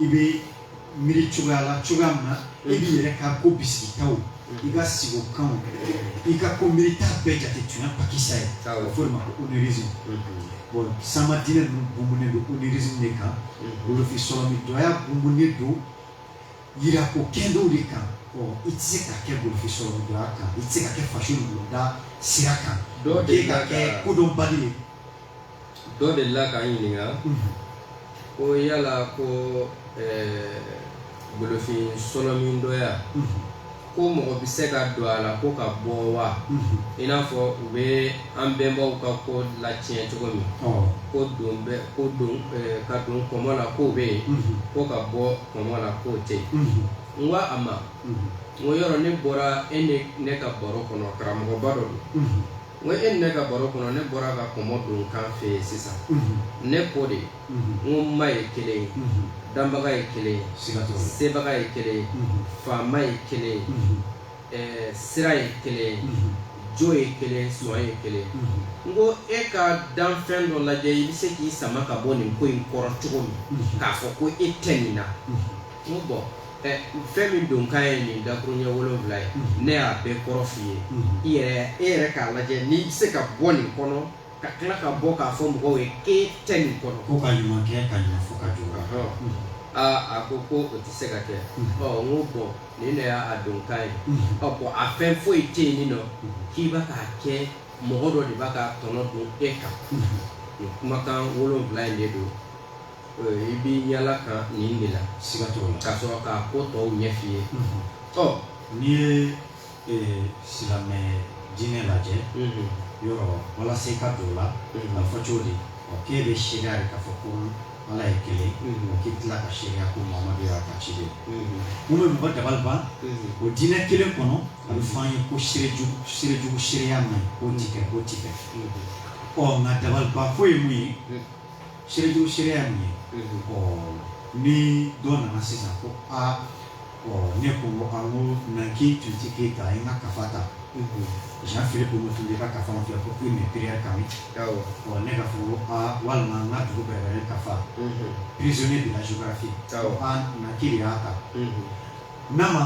i bɛ miiri cogoya la cogoya min na e b'i yɛrɛ ka ko bisigitaw i ka sigo kanw i ka ko miirita bɛɛ jate tiɲɛ lakika ye a bɛ fɔ o de ma ko onirisme bon sama diinɛ ninnu bunbunnen don onirisme de kan golofin sɔlɔmindɔya bunbunnen don yira ko kɛlenw de kan ɔ i tɛ se ka kɛ golofin sɔlɔmindɔya kan i tɛ se ka kɛ faso nugulada sira kan dɔw de ka kɛ kodɔnbali ye dɔ delila k'an ɲininka ko yala ko golofin sɔlɔmindɔya ko mɔgɔ bɛ se ka don a la ko ka bɔ wa i n'a fɔ u bɛ an bɛnbaw ka ko latiɲɛ cogo min ko don bɛ ko don ka don kɔmɔ la ko bɛ yen ko ka bɔ kɔmɔ la ko tɛ n ko a ma n ko yɔrɔ ne bɔra e ne ka baro kɔnɔ karamɔgɔba dɔ don N ko e ni ne ka baro kɔnɔ ne bɔra ka kɔmɔ donkan f'e ye sisan ne ko de n ko ma ye kelen ye danbaga ye kelen ye sebaga ye kelen ye faama ye kelen ye sira ye kelen ye jo ye kelen sɔn ye kelen n ko e ka danfɛn dɔ lajɛ i bɛ se k'i sama ka bɔ nin ko in kɔrɔ cogo min k'a fɔ ko e tɛ nin na n bɔ fɛn min donkan ye nin dakuruɲɛ wolonwula ye ne y'a bɛɛ kɔrɔ f'i ye i yɛrɛ e yɛrɛ k'a lajɛ n'i bɛ se ka bɔ nin kɔnɔ ka tila ka bɔ k'a fɔ mɔgɔw ye k'e tɛ nin kɔnɔ ko ka ɲuman kɛ ka ɲuman fɔ ka jugu aa a ko ko o tɛ se ka kɛ ɔ n ko bɔn nin de y'a donkan ye ɔ bɔn a fɛn foyi tɛ yen nin nɔ k'i bɛ k'a kɛ mɔgɔ dɔ de b'a ka tɔnɔ don e kan nin kumakan wolonwula in de don i bɛ yala ka nin de la siga t'o la ka sɔrɔ k'a ko tɔw ɲɛf'i ye ɔ n'i ye silamɛ diinɛ lajɛ yɔrɔ walasa i ka don o la a fɔ cogo di ɔ k'e bɛ seereya de k'a fɔ ko ala ye kelen o k'i tila ka seereya ko mamadu y'a ka ciden ye mun bɛ mɔgɔ dabali ban o diinɛ kelen kɔnɔ a bɛ fɔ an ye ko seerejugu seerejugu seereya man ɲi k'o ti kɛ k'o ti kɛ ɔ nka dabalibanko ye mun ye setu seereya min ye ɔ ni dɔ nana sisan ko aa ɔ ne ko an ko na k'i tun ti k'e ta i ka kafa ta jean philippe omotunde ka kafa filɛ ko hymnes et prières kamites ɔ ne ka fɔ ko aa walima n ka dugubɛrɛbɛrɛ kafa prisonniers de la géographie ko aa na k'i de y'a ta n'a ma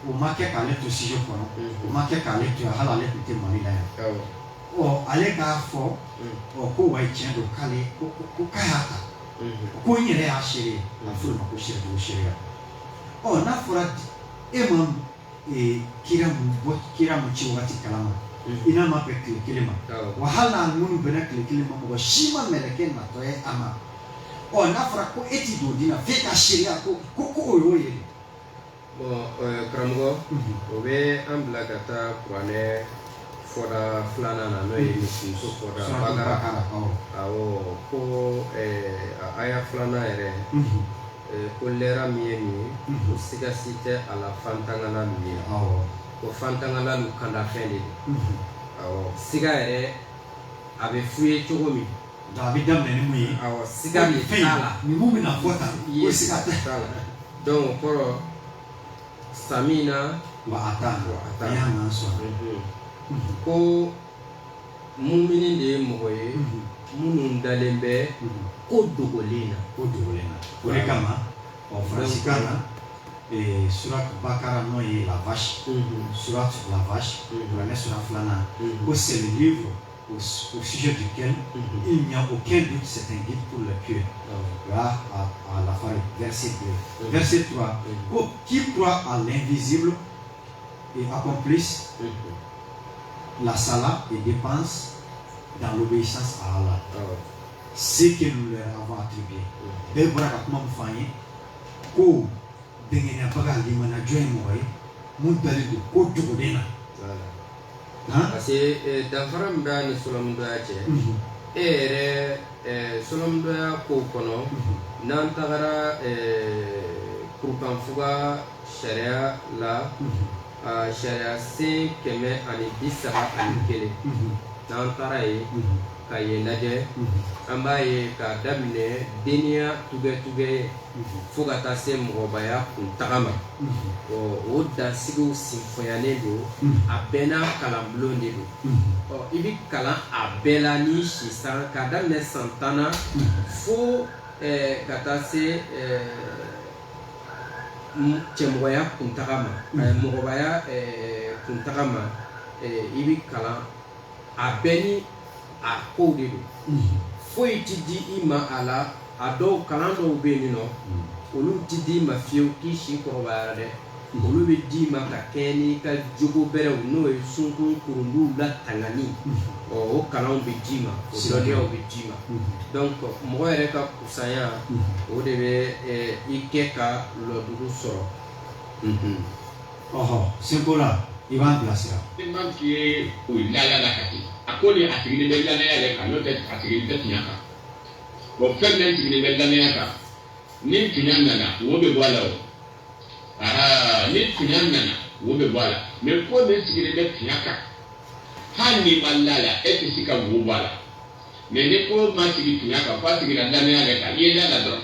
o ma kɛ k'ale to studio kɔnɔ o ma kɛ k'ale to yan hali ale tun tɛ mali la yan ɔ ale k'a fɔ ɔ ko wa tiɲɛ don k'ale ko ko k'a y'a ta ko n yɛrɛ y'a seere ye a bɛ f'o de ma ko saribugu seereya ɔ n'a fɔra e ma ee, kira mun bɔ kira mun ci wagati kalama i n'a ma bɛn tile kelen ma wa hali n'a minnu bɛnna tile kelen ma mɔgɔ si ma mɛlɛkɛ natɔ ye a ma ɔ n'a fɔra ko e ti don o dina f'e ka seereya ko ko ko o y'o ye dɛ. karamɔgɔ o bɛ an bila ka taa kuranɛ fɔda filanan na n'o ye misimuso fɔda bakara awɔ ko a aya filanan yɛrɛ ko lɛra min ye nin ye ko siga si tɛ a la fantangalalu ye ko fantangalalu kandafɛn de don awɔ siga yɛrɛ a bɛ f'u ye cogo min Nka a bɛ daminɛ ni ye siga ninnu bɛna fɔ ta i ye siga t'a la dɔn kɔrɔ sa min na wa a taa a taa y'a na sɔrɔ ko mun de ye mɔgɔ ye minnu dalen bɛ ko dogolen na ko dogolen na o de kama ɔ faransikan na sourate bakara n'o ye la vache sourate vache ne sura filanan ko c'est le livre au, au sujet duquel mm -hmm. il n'y a aucun doute, c'est un guide pour les pieux. Mm à, à, la fin, verset 2. Mm-hmm. Verset 3. Mm-hmm. Oh, qui croient à l'invisible et accomplissent mm-hmm. la salat et dépensent dans l'obéissance à Allah. Ah Ce que nous leur avons attribué. Bɛɛ bɔra ka kuma min fɔ an ye ko dɛngɛnyabaga limaniya jɔn ye mɔgɔ ye mun dalen don ko dogolen na. parce que danfara min bɛ a ni sɔlɔmudɔya cɛ e yɛrɛ sɔlɔmudɔya ko kɔnɔ n'an tagara kurukanfuga sariya la sariyasen kɛmɛ ani bi saba ani kelen n'an taara yen ka yen lajɛ an b'a ye k'a daminɛ denya tugɛtugɛ fo ka taa se mɔgɔbaya kuntaga ma ɔ o dansigiw sinfonyalen don a bɛɛ n'a kalanbulon de don ɔ i bɛ kalan a bɛɛ la ni sisan k'a daminɛ san tan na fo ka taa se cɛmɔgɔya kuntaga ma mɔgɔbaya kuntaga ma i bɛ kalan a bɛɛ ni a kow de don foyi tɛ di i ma a la a dɔw kalan dɔw bɛ yen nɔ olu tɛ di i ma fiyewu k'i si kɔrɔbayara dɛ olu bɛ d'i ma ka kɛ n'i ka jogo bɛrɛw n'o ye sunkun kurunduw latangali ɔ o kalanw bɛ d'i ma o dɔnniyaw bɛ d'i ma donc mɔgɔ yɛrɛ ka kusanya o de bɛ i kɛ ka lɔdugu sɔrɔ. Ɔhɔ seko la i b'a bilasira. ni maa min ye o ye laada la ka kɛ a ko ni a sigilen bɛ lannaya yɛrɛ kan n'o tɛ a sigilen tɛ tiɲɛ kan bon fɛn min sigilen bɛ lannaya kan ni tiɲɛ nana wo bɛ bɔ a la o aa ni tiɲɛ nana wo bɛ bɔ a la mɛ ko min sigilen bɛ tiɲɛ kan hali n'i ma la a la e tɛ se ka wo bɔ a la mɛ ni ko ma sigi tiɲɛ kan f'a sigira lannaya yɛrɛ kan i ye laada dɔrɔn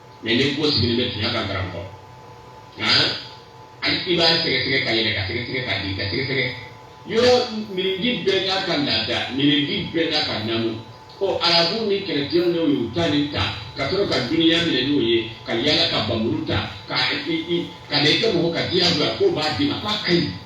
mɛ ni ko sigilen bɛ tiɲɛ kan karamɔgɔ nka hali i b'a sɛgɛsɛgɛ ka yɛlɛ ka sɛgɛsɛgɛ ka jigi ka sɛgɛsɛgɛ yɔrɔ mirinji bɛɛ n'a ka laada mirinji bɛɛ n'a ka namu ɔ arabu ni kerecɛnw n'o ye u ta ni ta ka sɔrɔ ka dunuya minɛ n'o ye ka yala ka bamuru ta ka ka ne kɛ mɔgɔ ka diyagoya la k'o b'a d'i ma k'a ka ɲi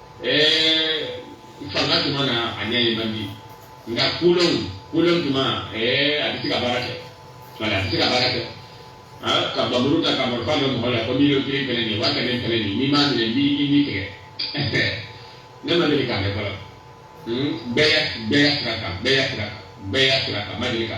eh fanga tun mana a ɲɛ ye man di nka kolon kolon tun ma eh a bɛ se ka baara kɛ wala a bɛ se ka baara kɛ ah ka bamuru ta ka marifa bɛ mɔgɔ la ko miliyɔn kelen fɛnɛ nin wa kɛmɛ fɛnɛ nin n'i m'a minɛ n b'i ni tigɛ ne ma deli k'a mɛn fɔlɔ bɛɛ y'a bɛɛ y'a sira kan bɛɛ y'a sira kan bɛɛ y'a sira kan ma deli ka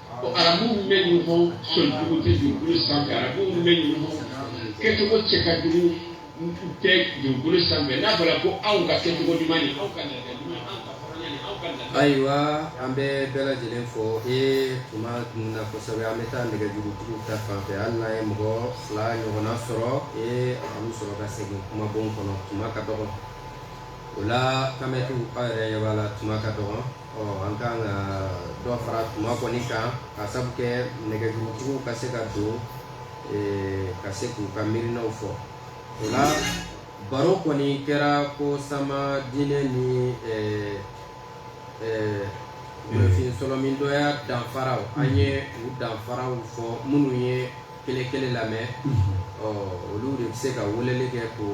arabu bɔɲɔgɔn sɔnjugu tɛ dugukolo sanfɛ arabu bɔɲɔgɔn kɛcogo cɛ ka jugu tɛ dugukolo sanfɛ n'a fɔra ko aw ka kɛcogo ɲuman ye aw ka ayiwa an bɛ bɛɛ lajɛlen fo e tuma na kosɛbɛ an bɛ taa nɛgɛjurutigiw ta fanfɛ hali n'an ye mɔgɔ fila ɲɔgɔnna sɔrɔ e an sɔrɔ ka segin kumabon kɔnɔ tuma ka dɔgɔ o la ka aw yɛrɛ yɛrɛ la tuma ka dɔgɔ ɔ an ka kan ka dɔ fara tuma kɔni kan ka sabu kɛ nɛgɛjurutigiw ka se ka don eh, ka se k'u ka miirinaw fɔ o la baro kɔni kɛra ko sama diinɛ ni eh, eh, mɔgɔfin sɔlɔmindɔya danfaraw an ye u danfaraw fɔ minnu ye kelen kelen lamɛn ɔ olu de bɛ se ka weleli kɛ k'u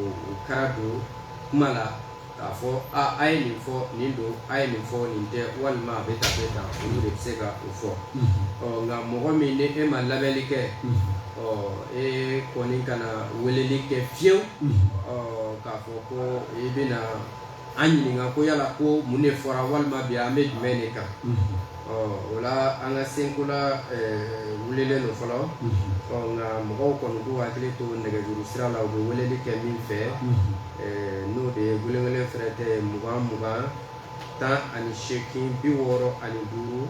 ka da don kuma la k'a fɔ aa a ye nin fɔ nin don a ye nin fɔ nin tɛ walima a bɛ tan bɛ tan olu de bɛ se ka o fɔ ɔ nka mɔgɔ min ni e ma lamɛnni kɛ ɔ e kɔni kana weleli kɛ fiyewu ɔ k'a fɔ ko i bɛna an ɲininka ko yala ko mun de fɔra walima bi an bɛ jumɛn de kan ɔ o la an ka senkola wulilen don fɔlɔ ɔ nka mɔgɔw kɔni k'u hakili to nɛgɛjuru sira la u bɛ weleli kɛ min fɛ n'o de ye welewele fɛrɛtɛ mugan mugan tan ani seegin biwɔɔrɔ ani duuru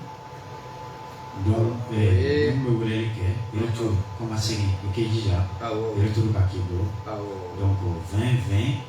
donc ee min bɛ weleli kɛ retour kɔmasegin i k'i jija retour ka k'i bolo donc 20 20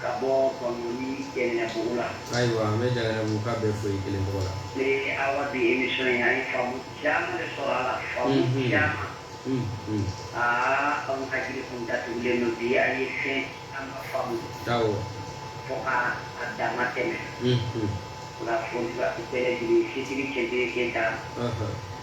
ka bɔ bankɔni janginɛbugu la ayiwa an bɛ janginɛbugukaw bɛɛ fo i kelen tɔgɔ la ee awa bi emisiyɔn an ye faamu caman de sɔrɔ a la faamu caman aa anw ka jiri kun datugulen don bi an ye fɛn caman faamu fo ka a dama tɛmɛ nka fo bɛɛ jigin sisiri cɛ keyita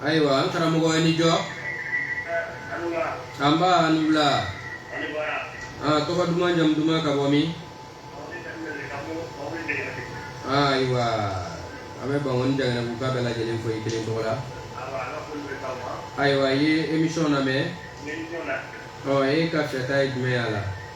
ayiwa an karamɔgɔ i ni jɔ nba a ni wula aa tɔgɔ duman jamu duman ka bɔ min ayiwa an bɛ bankɔni janginɛbugukaw bɛɛ lajɛlen fo i kelen tɔgɔ la ayiwa i ye emisiyɔn lamɛn ɔ e ka fɔta ye jumɛn y'a la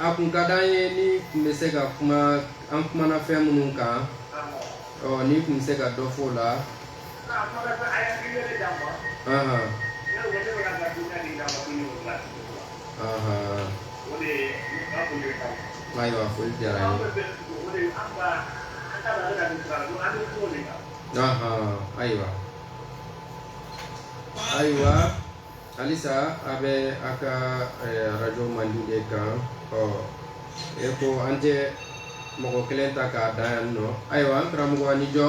A kun ka da ye n'i tun bɛ se ka kuma an kumana fɛn minnu kan n'i tun bɛ se ka dɔ fɔ o la ayiwa foli diyara an ye ayiwa ayiwa halisa a bɛ a ka arajo manden de kan ɔ e ko an tɛ mɔgɔ kelen ta k'a da yan nɔ ayiwa an karamɔgɔ ni jɔ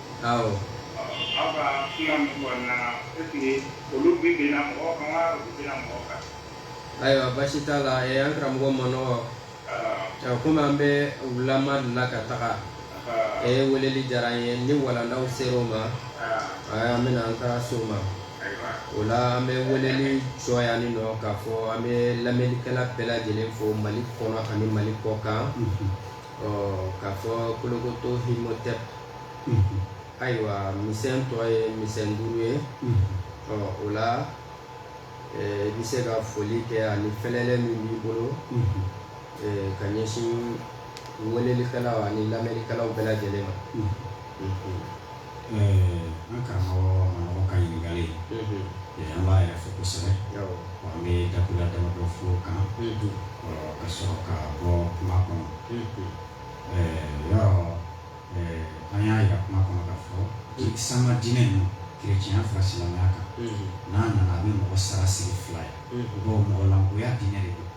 Awɔ. Ɔ aw ka kuma ninnu kɔnɔna na est ce que olu bɛ bin na mɔgɔ kan wa u tɛ na mɔgɔ kan? Ayiwa basi t'a la ɛ an karamɔgɔ manɔgɔ ɔ komi an bɛ o laban de la ka taga ɛ weleli diyara an ye ni walandaw sera o ma ɛ an bɛna an taara so ma o la an bɛ weleli jɔ yan ni nɔ k'a fɔ an bɛ lamɛnnikɛla bɛɛ lajɛlen fo mali kɔnɔ ani mali kɔkan ɔ k'a fɔ kolokoto himotɛp ayiwa misɛn tɔ ye misɛn duuru ye ɔ o la i bɛ se ka foli kɛ ani fɛlɛlɛ min b'i bolo ka ɲɛsin welelikɛlaw ani lamɛnnikɛlaw bɛɛ lajɛlen ma an karamɔgɔ manɔgɔ ka ɲininkali ye an b'a yɛrɛ fo kosɛbɛ an bɛ dakuru damadɔ fɔ o kan ka sɔrɔ ka bɔ kuma kɔnɔ yɔrɔ an y'a jira kuma kɔnɔ k'a fɔ ko sama diinɛ n'o kerecɛnya fara silamɛya kan n'a nana a bɛ mɔgɔ sara sɛrɛ fila ye mɔgɔ mɔgɔlankoya diinɛ de don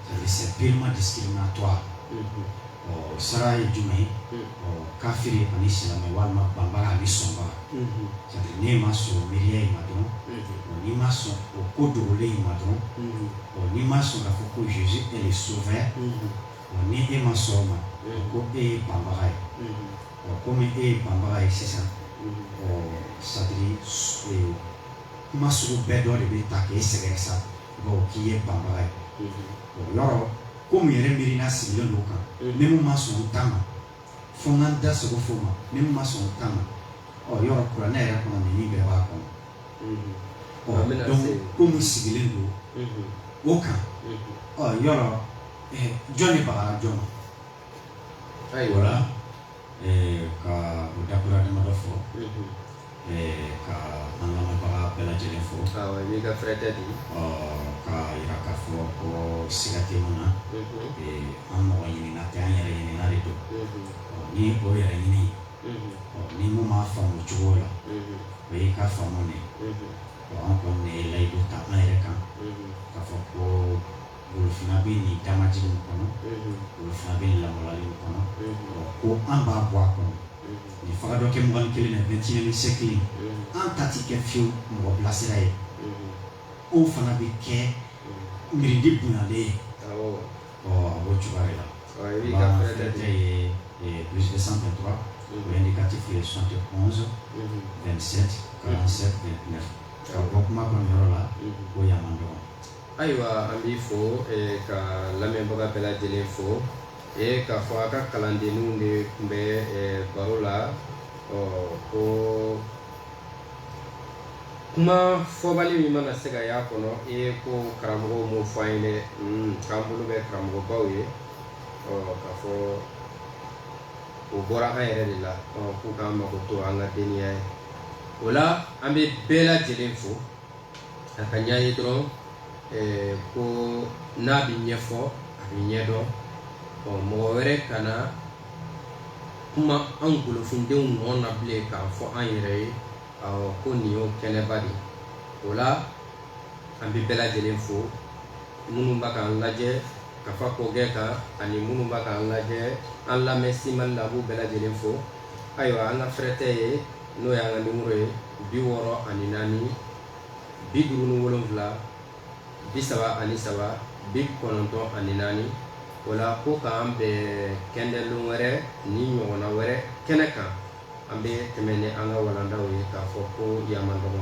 ale c'est purement discriminatoire ɔ sara ye jumɛn ye ɔ kafiri ani silamɛ walima banbaga ani sɔnbaga sadi n'e ma sɔn miiriya in ma dɔrɔn ɔ n'i ma sɔn o ko dogolen in ma dɔrɔn ɔ n'i ma sɔn k'a fɔ ko Jésus est le sauveur ɔ ni e ma sɔn o ma ko e ye banbaga ye ɔ komi e ye banbaga ye sisan ɔ sadiri kuma sugu bɛɛ dɔ de bɛ ta k'e sɛgɛrɛ sa bawo k'i ye banbaga ye o yɔrɔ komi yɛrɛ miirina sigilen don o kan ni mun ma sɔn n ta ma fo n ka n da sogo fo ma ni mun ma sɔn n ta ma o yɔrɔ kuranɛ yɛrɛ kɔnɔ nin min bɛɛ b'a kɔnɔ ɔ donc komi sigilen don o kan o yɔrɔ jɔn de bagara jɔn ma ayiwa ka o dakuru damadɔ fɔ ka an lamɛnbaga bɛɛ lajɛlen fo ani ka fɛrɛtɛ di k'a yira k'a fɔ ko siga tɛ mun na an mɔgɔ ɲinina tɛ an yɛrɛ ɲinina de don ni o yɛrɛ ɲini ni mun m'a faamu cogo la o y'i ka faamu de an kɔni ye layidu ta an yɛrɛ kan k'a fɔ ko golofinna bɛ nin damaj kɔnɔ golofinna bɛ lawale kɔnɔ ko an b'a bɔ a kɔnɔ nin fa dɔ kɛ mɔgɔ kelen na bɛɛ ni se kelen an ta tɛ kɛ fewu mɔgɔ bilasira ye o fana bɛ kɛ miiridi bonyalen ye ɔ o cogoya la bilisi san fɛ tora ni kati f ye sɔnte kɔsɔ bɛ sete ka se ka bɔ kuma kɔnɔ yɔrɔ la ko yama dɔgɔ Ayiwa an b'i fo ka lamɛnbaga bɛɛ lajɛlen fo ee k'a fɔ a ka kalandenninw de tun bɛ baro la ɔ ko kuma fɔbali min mana se ka y'a kɔnɔ e ko karamɔgɔw m'o fɔ an ye dɛ k'an bolo bɛ karamɔgɔbaw ye ɔ k'a fɔ o bɔra an yɛrɛ de la k'u k'an makoto an ka deniya ye o la an bɛ bɛɛ lajɛlen fo a ka ɲɛ ye dɔrɔn ko n'a bɛ ɲɛfɔ a bɛ ɲɛdɔn ɔ mɔgɔ wɛrɛ kana kuma an golofindenw nɔ na bilen k'a fɔ an yɛrɛ ye ko nin y'o kɛnɛba de o la an bɛ bɛɛ lajɛlen fo minnu bɛ k'an lajɛ ka fa kɔkɛ kan ani minnu bɛ k'an lajɛ an lamɛn simani na an b'u bɛɛ lajɛlen fo ayiwa an ka fɛrɛtɛ ye n'o y'an ka nimɔrɔ ye bi wɔɔrɔ ani naani bi duuru ni wolonwula bi saba ani saba bi kɔnɔntɔn ani naani o la ko k'an bɛn kɛndɛlon wɛrɛ ni ɲɔgɔnna wɛrɛ kɛnɛ kan an bɛ tɛmɛ ni an ka walandaw ye k'a fɔ ko yama dɔgɔ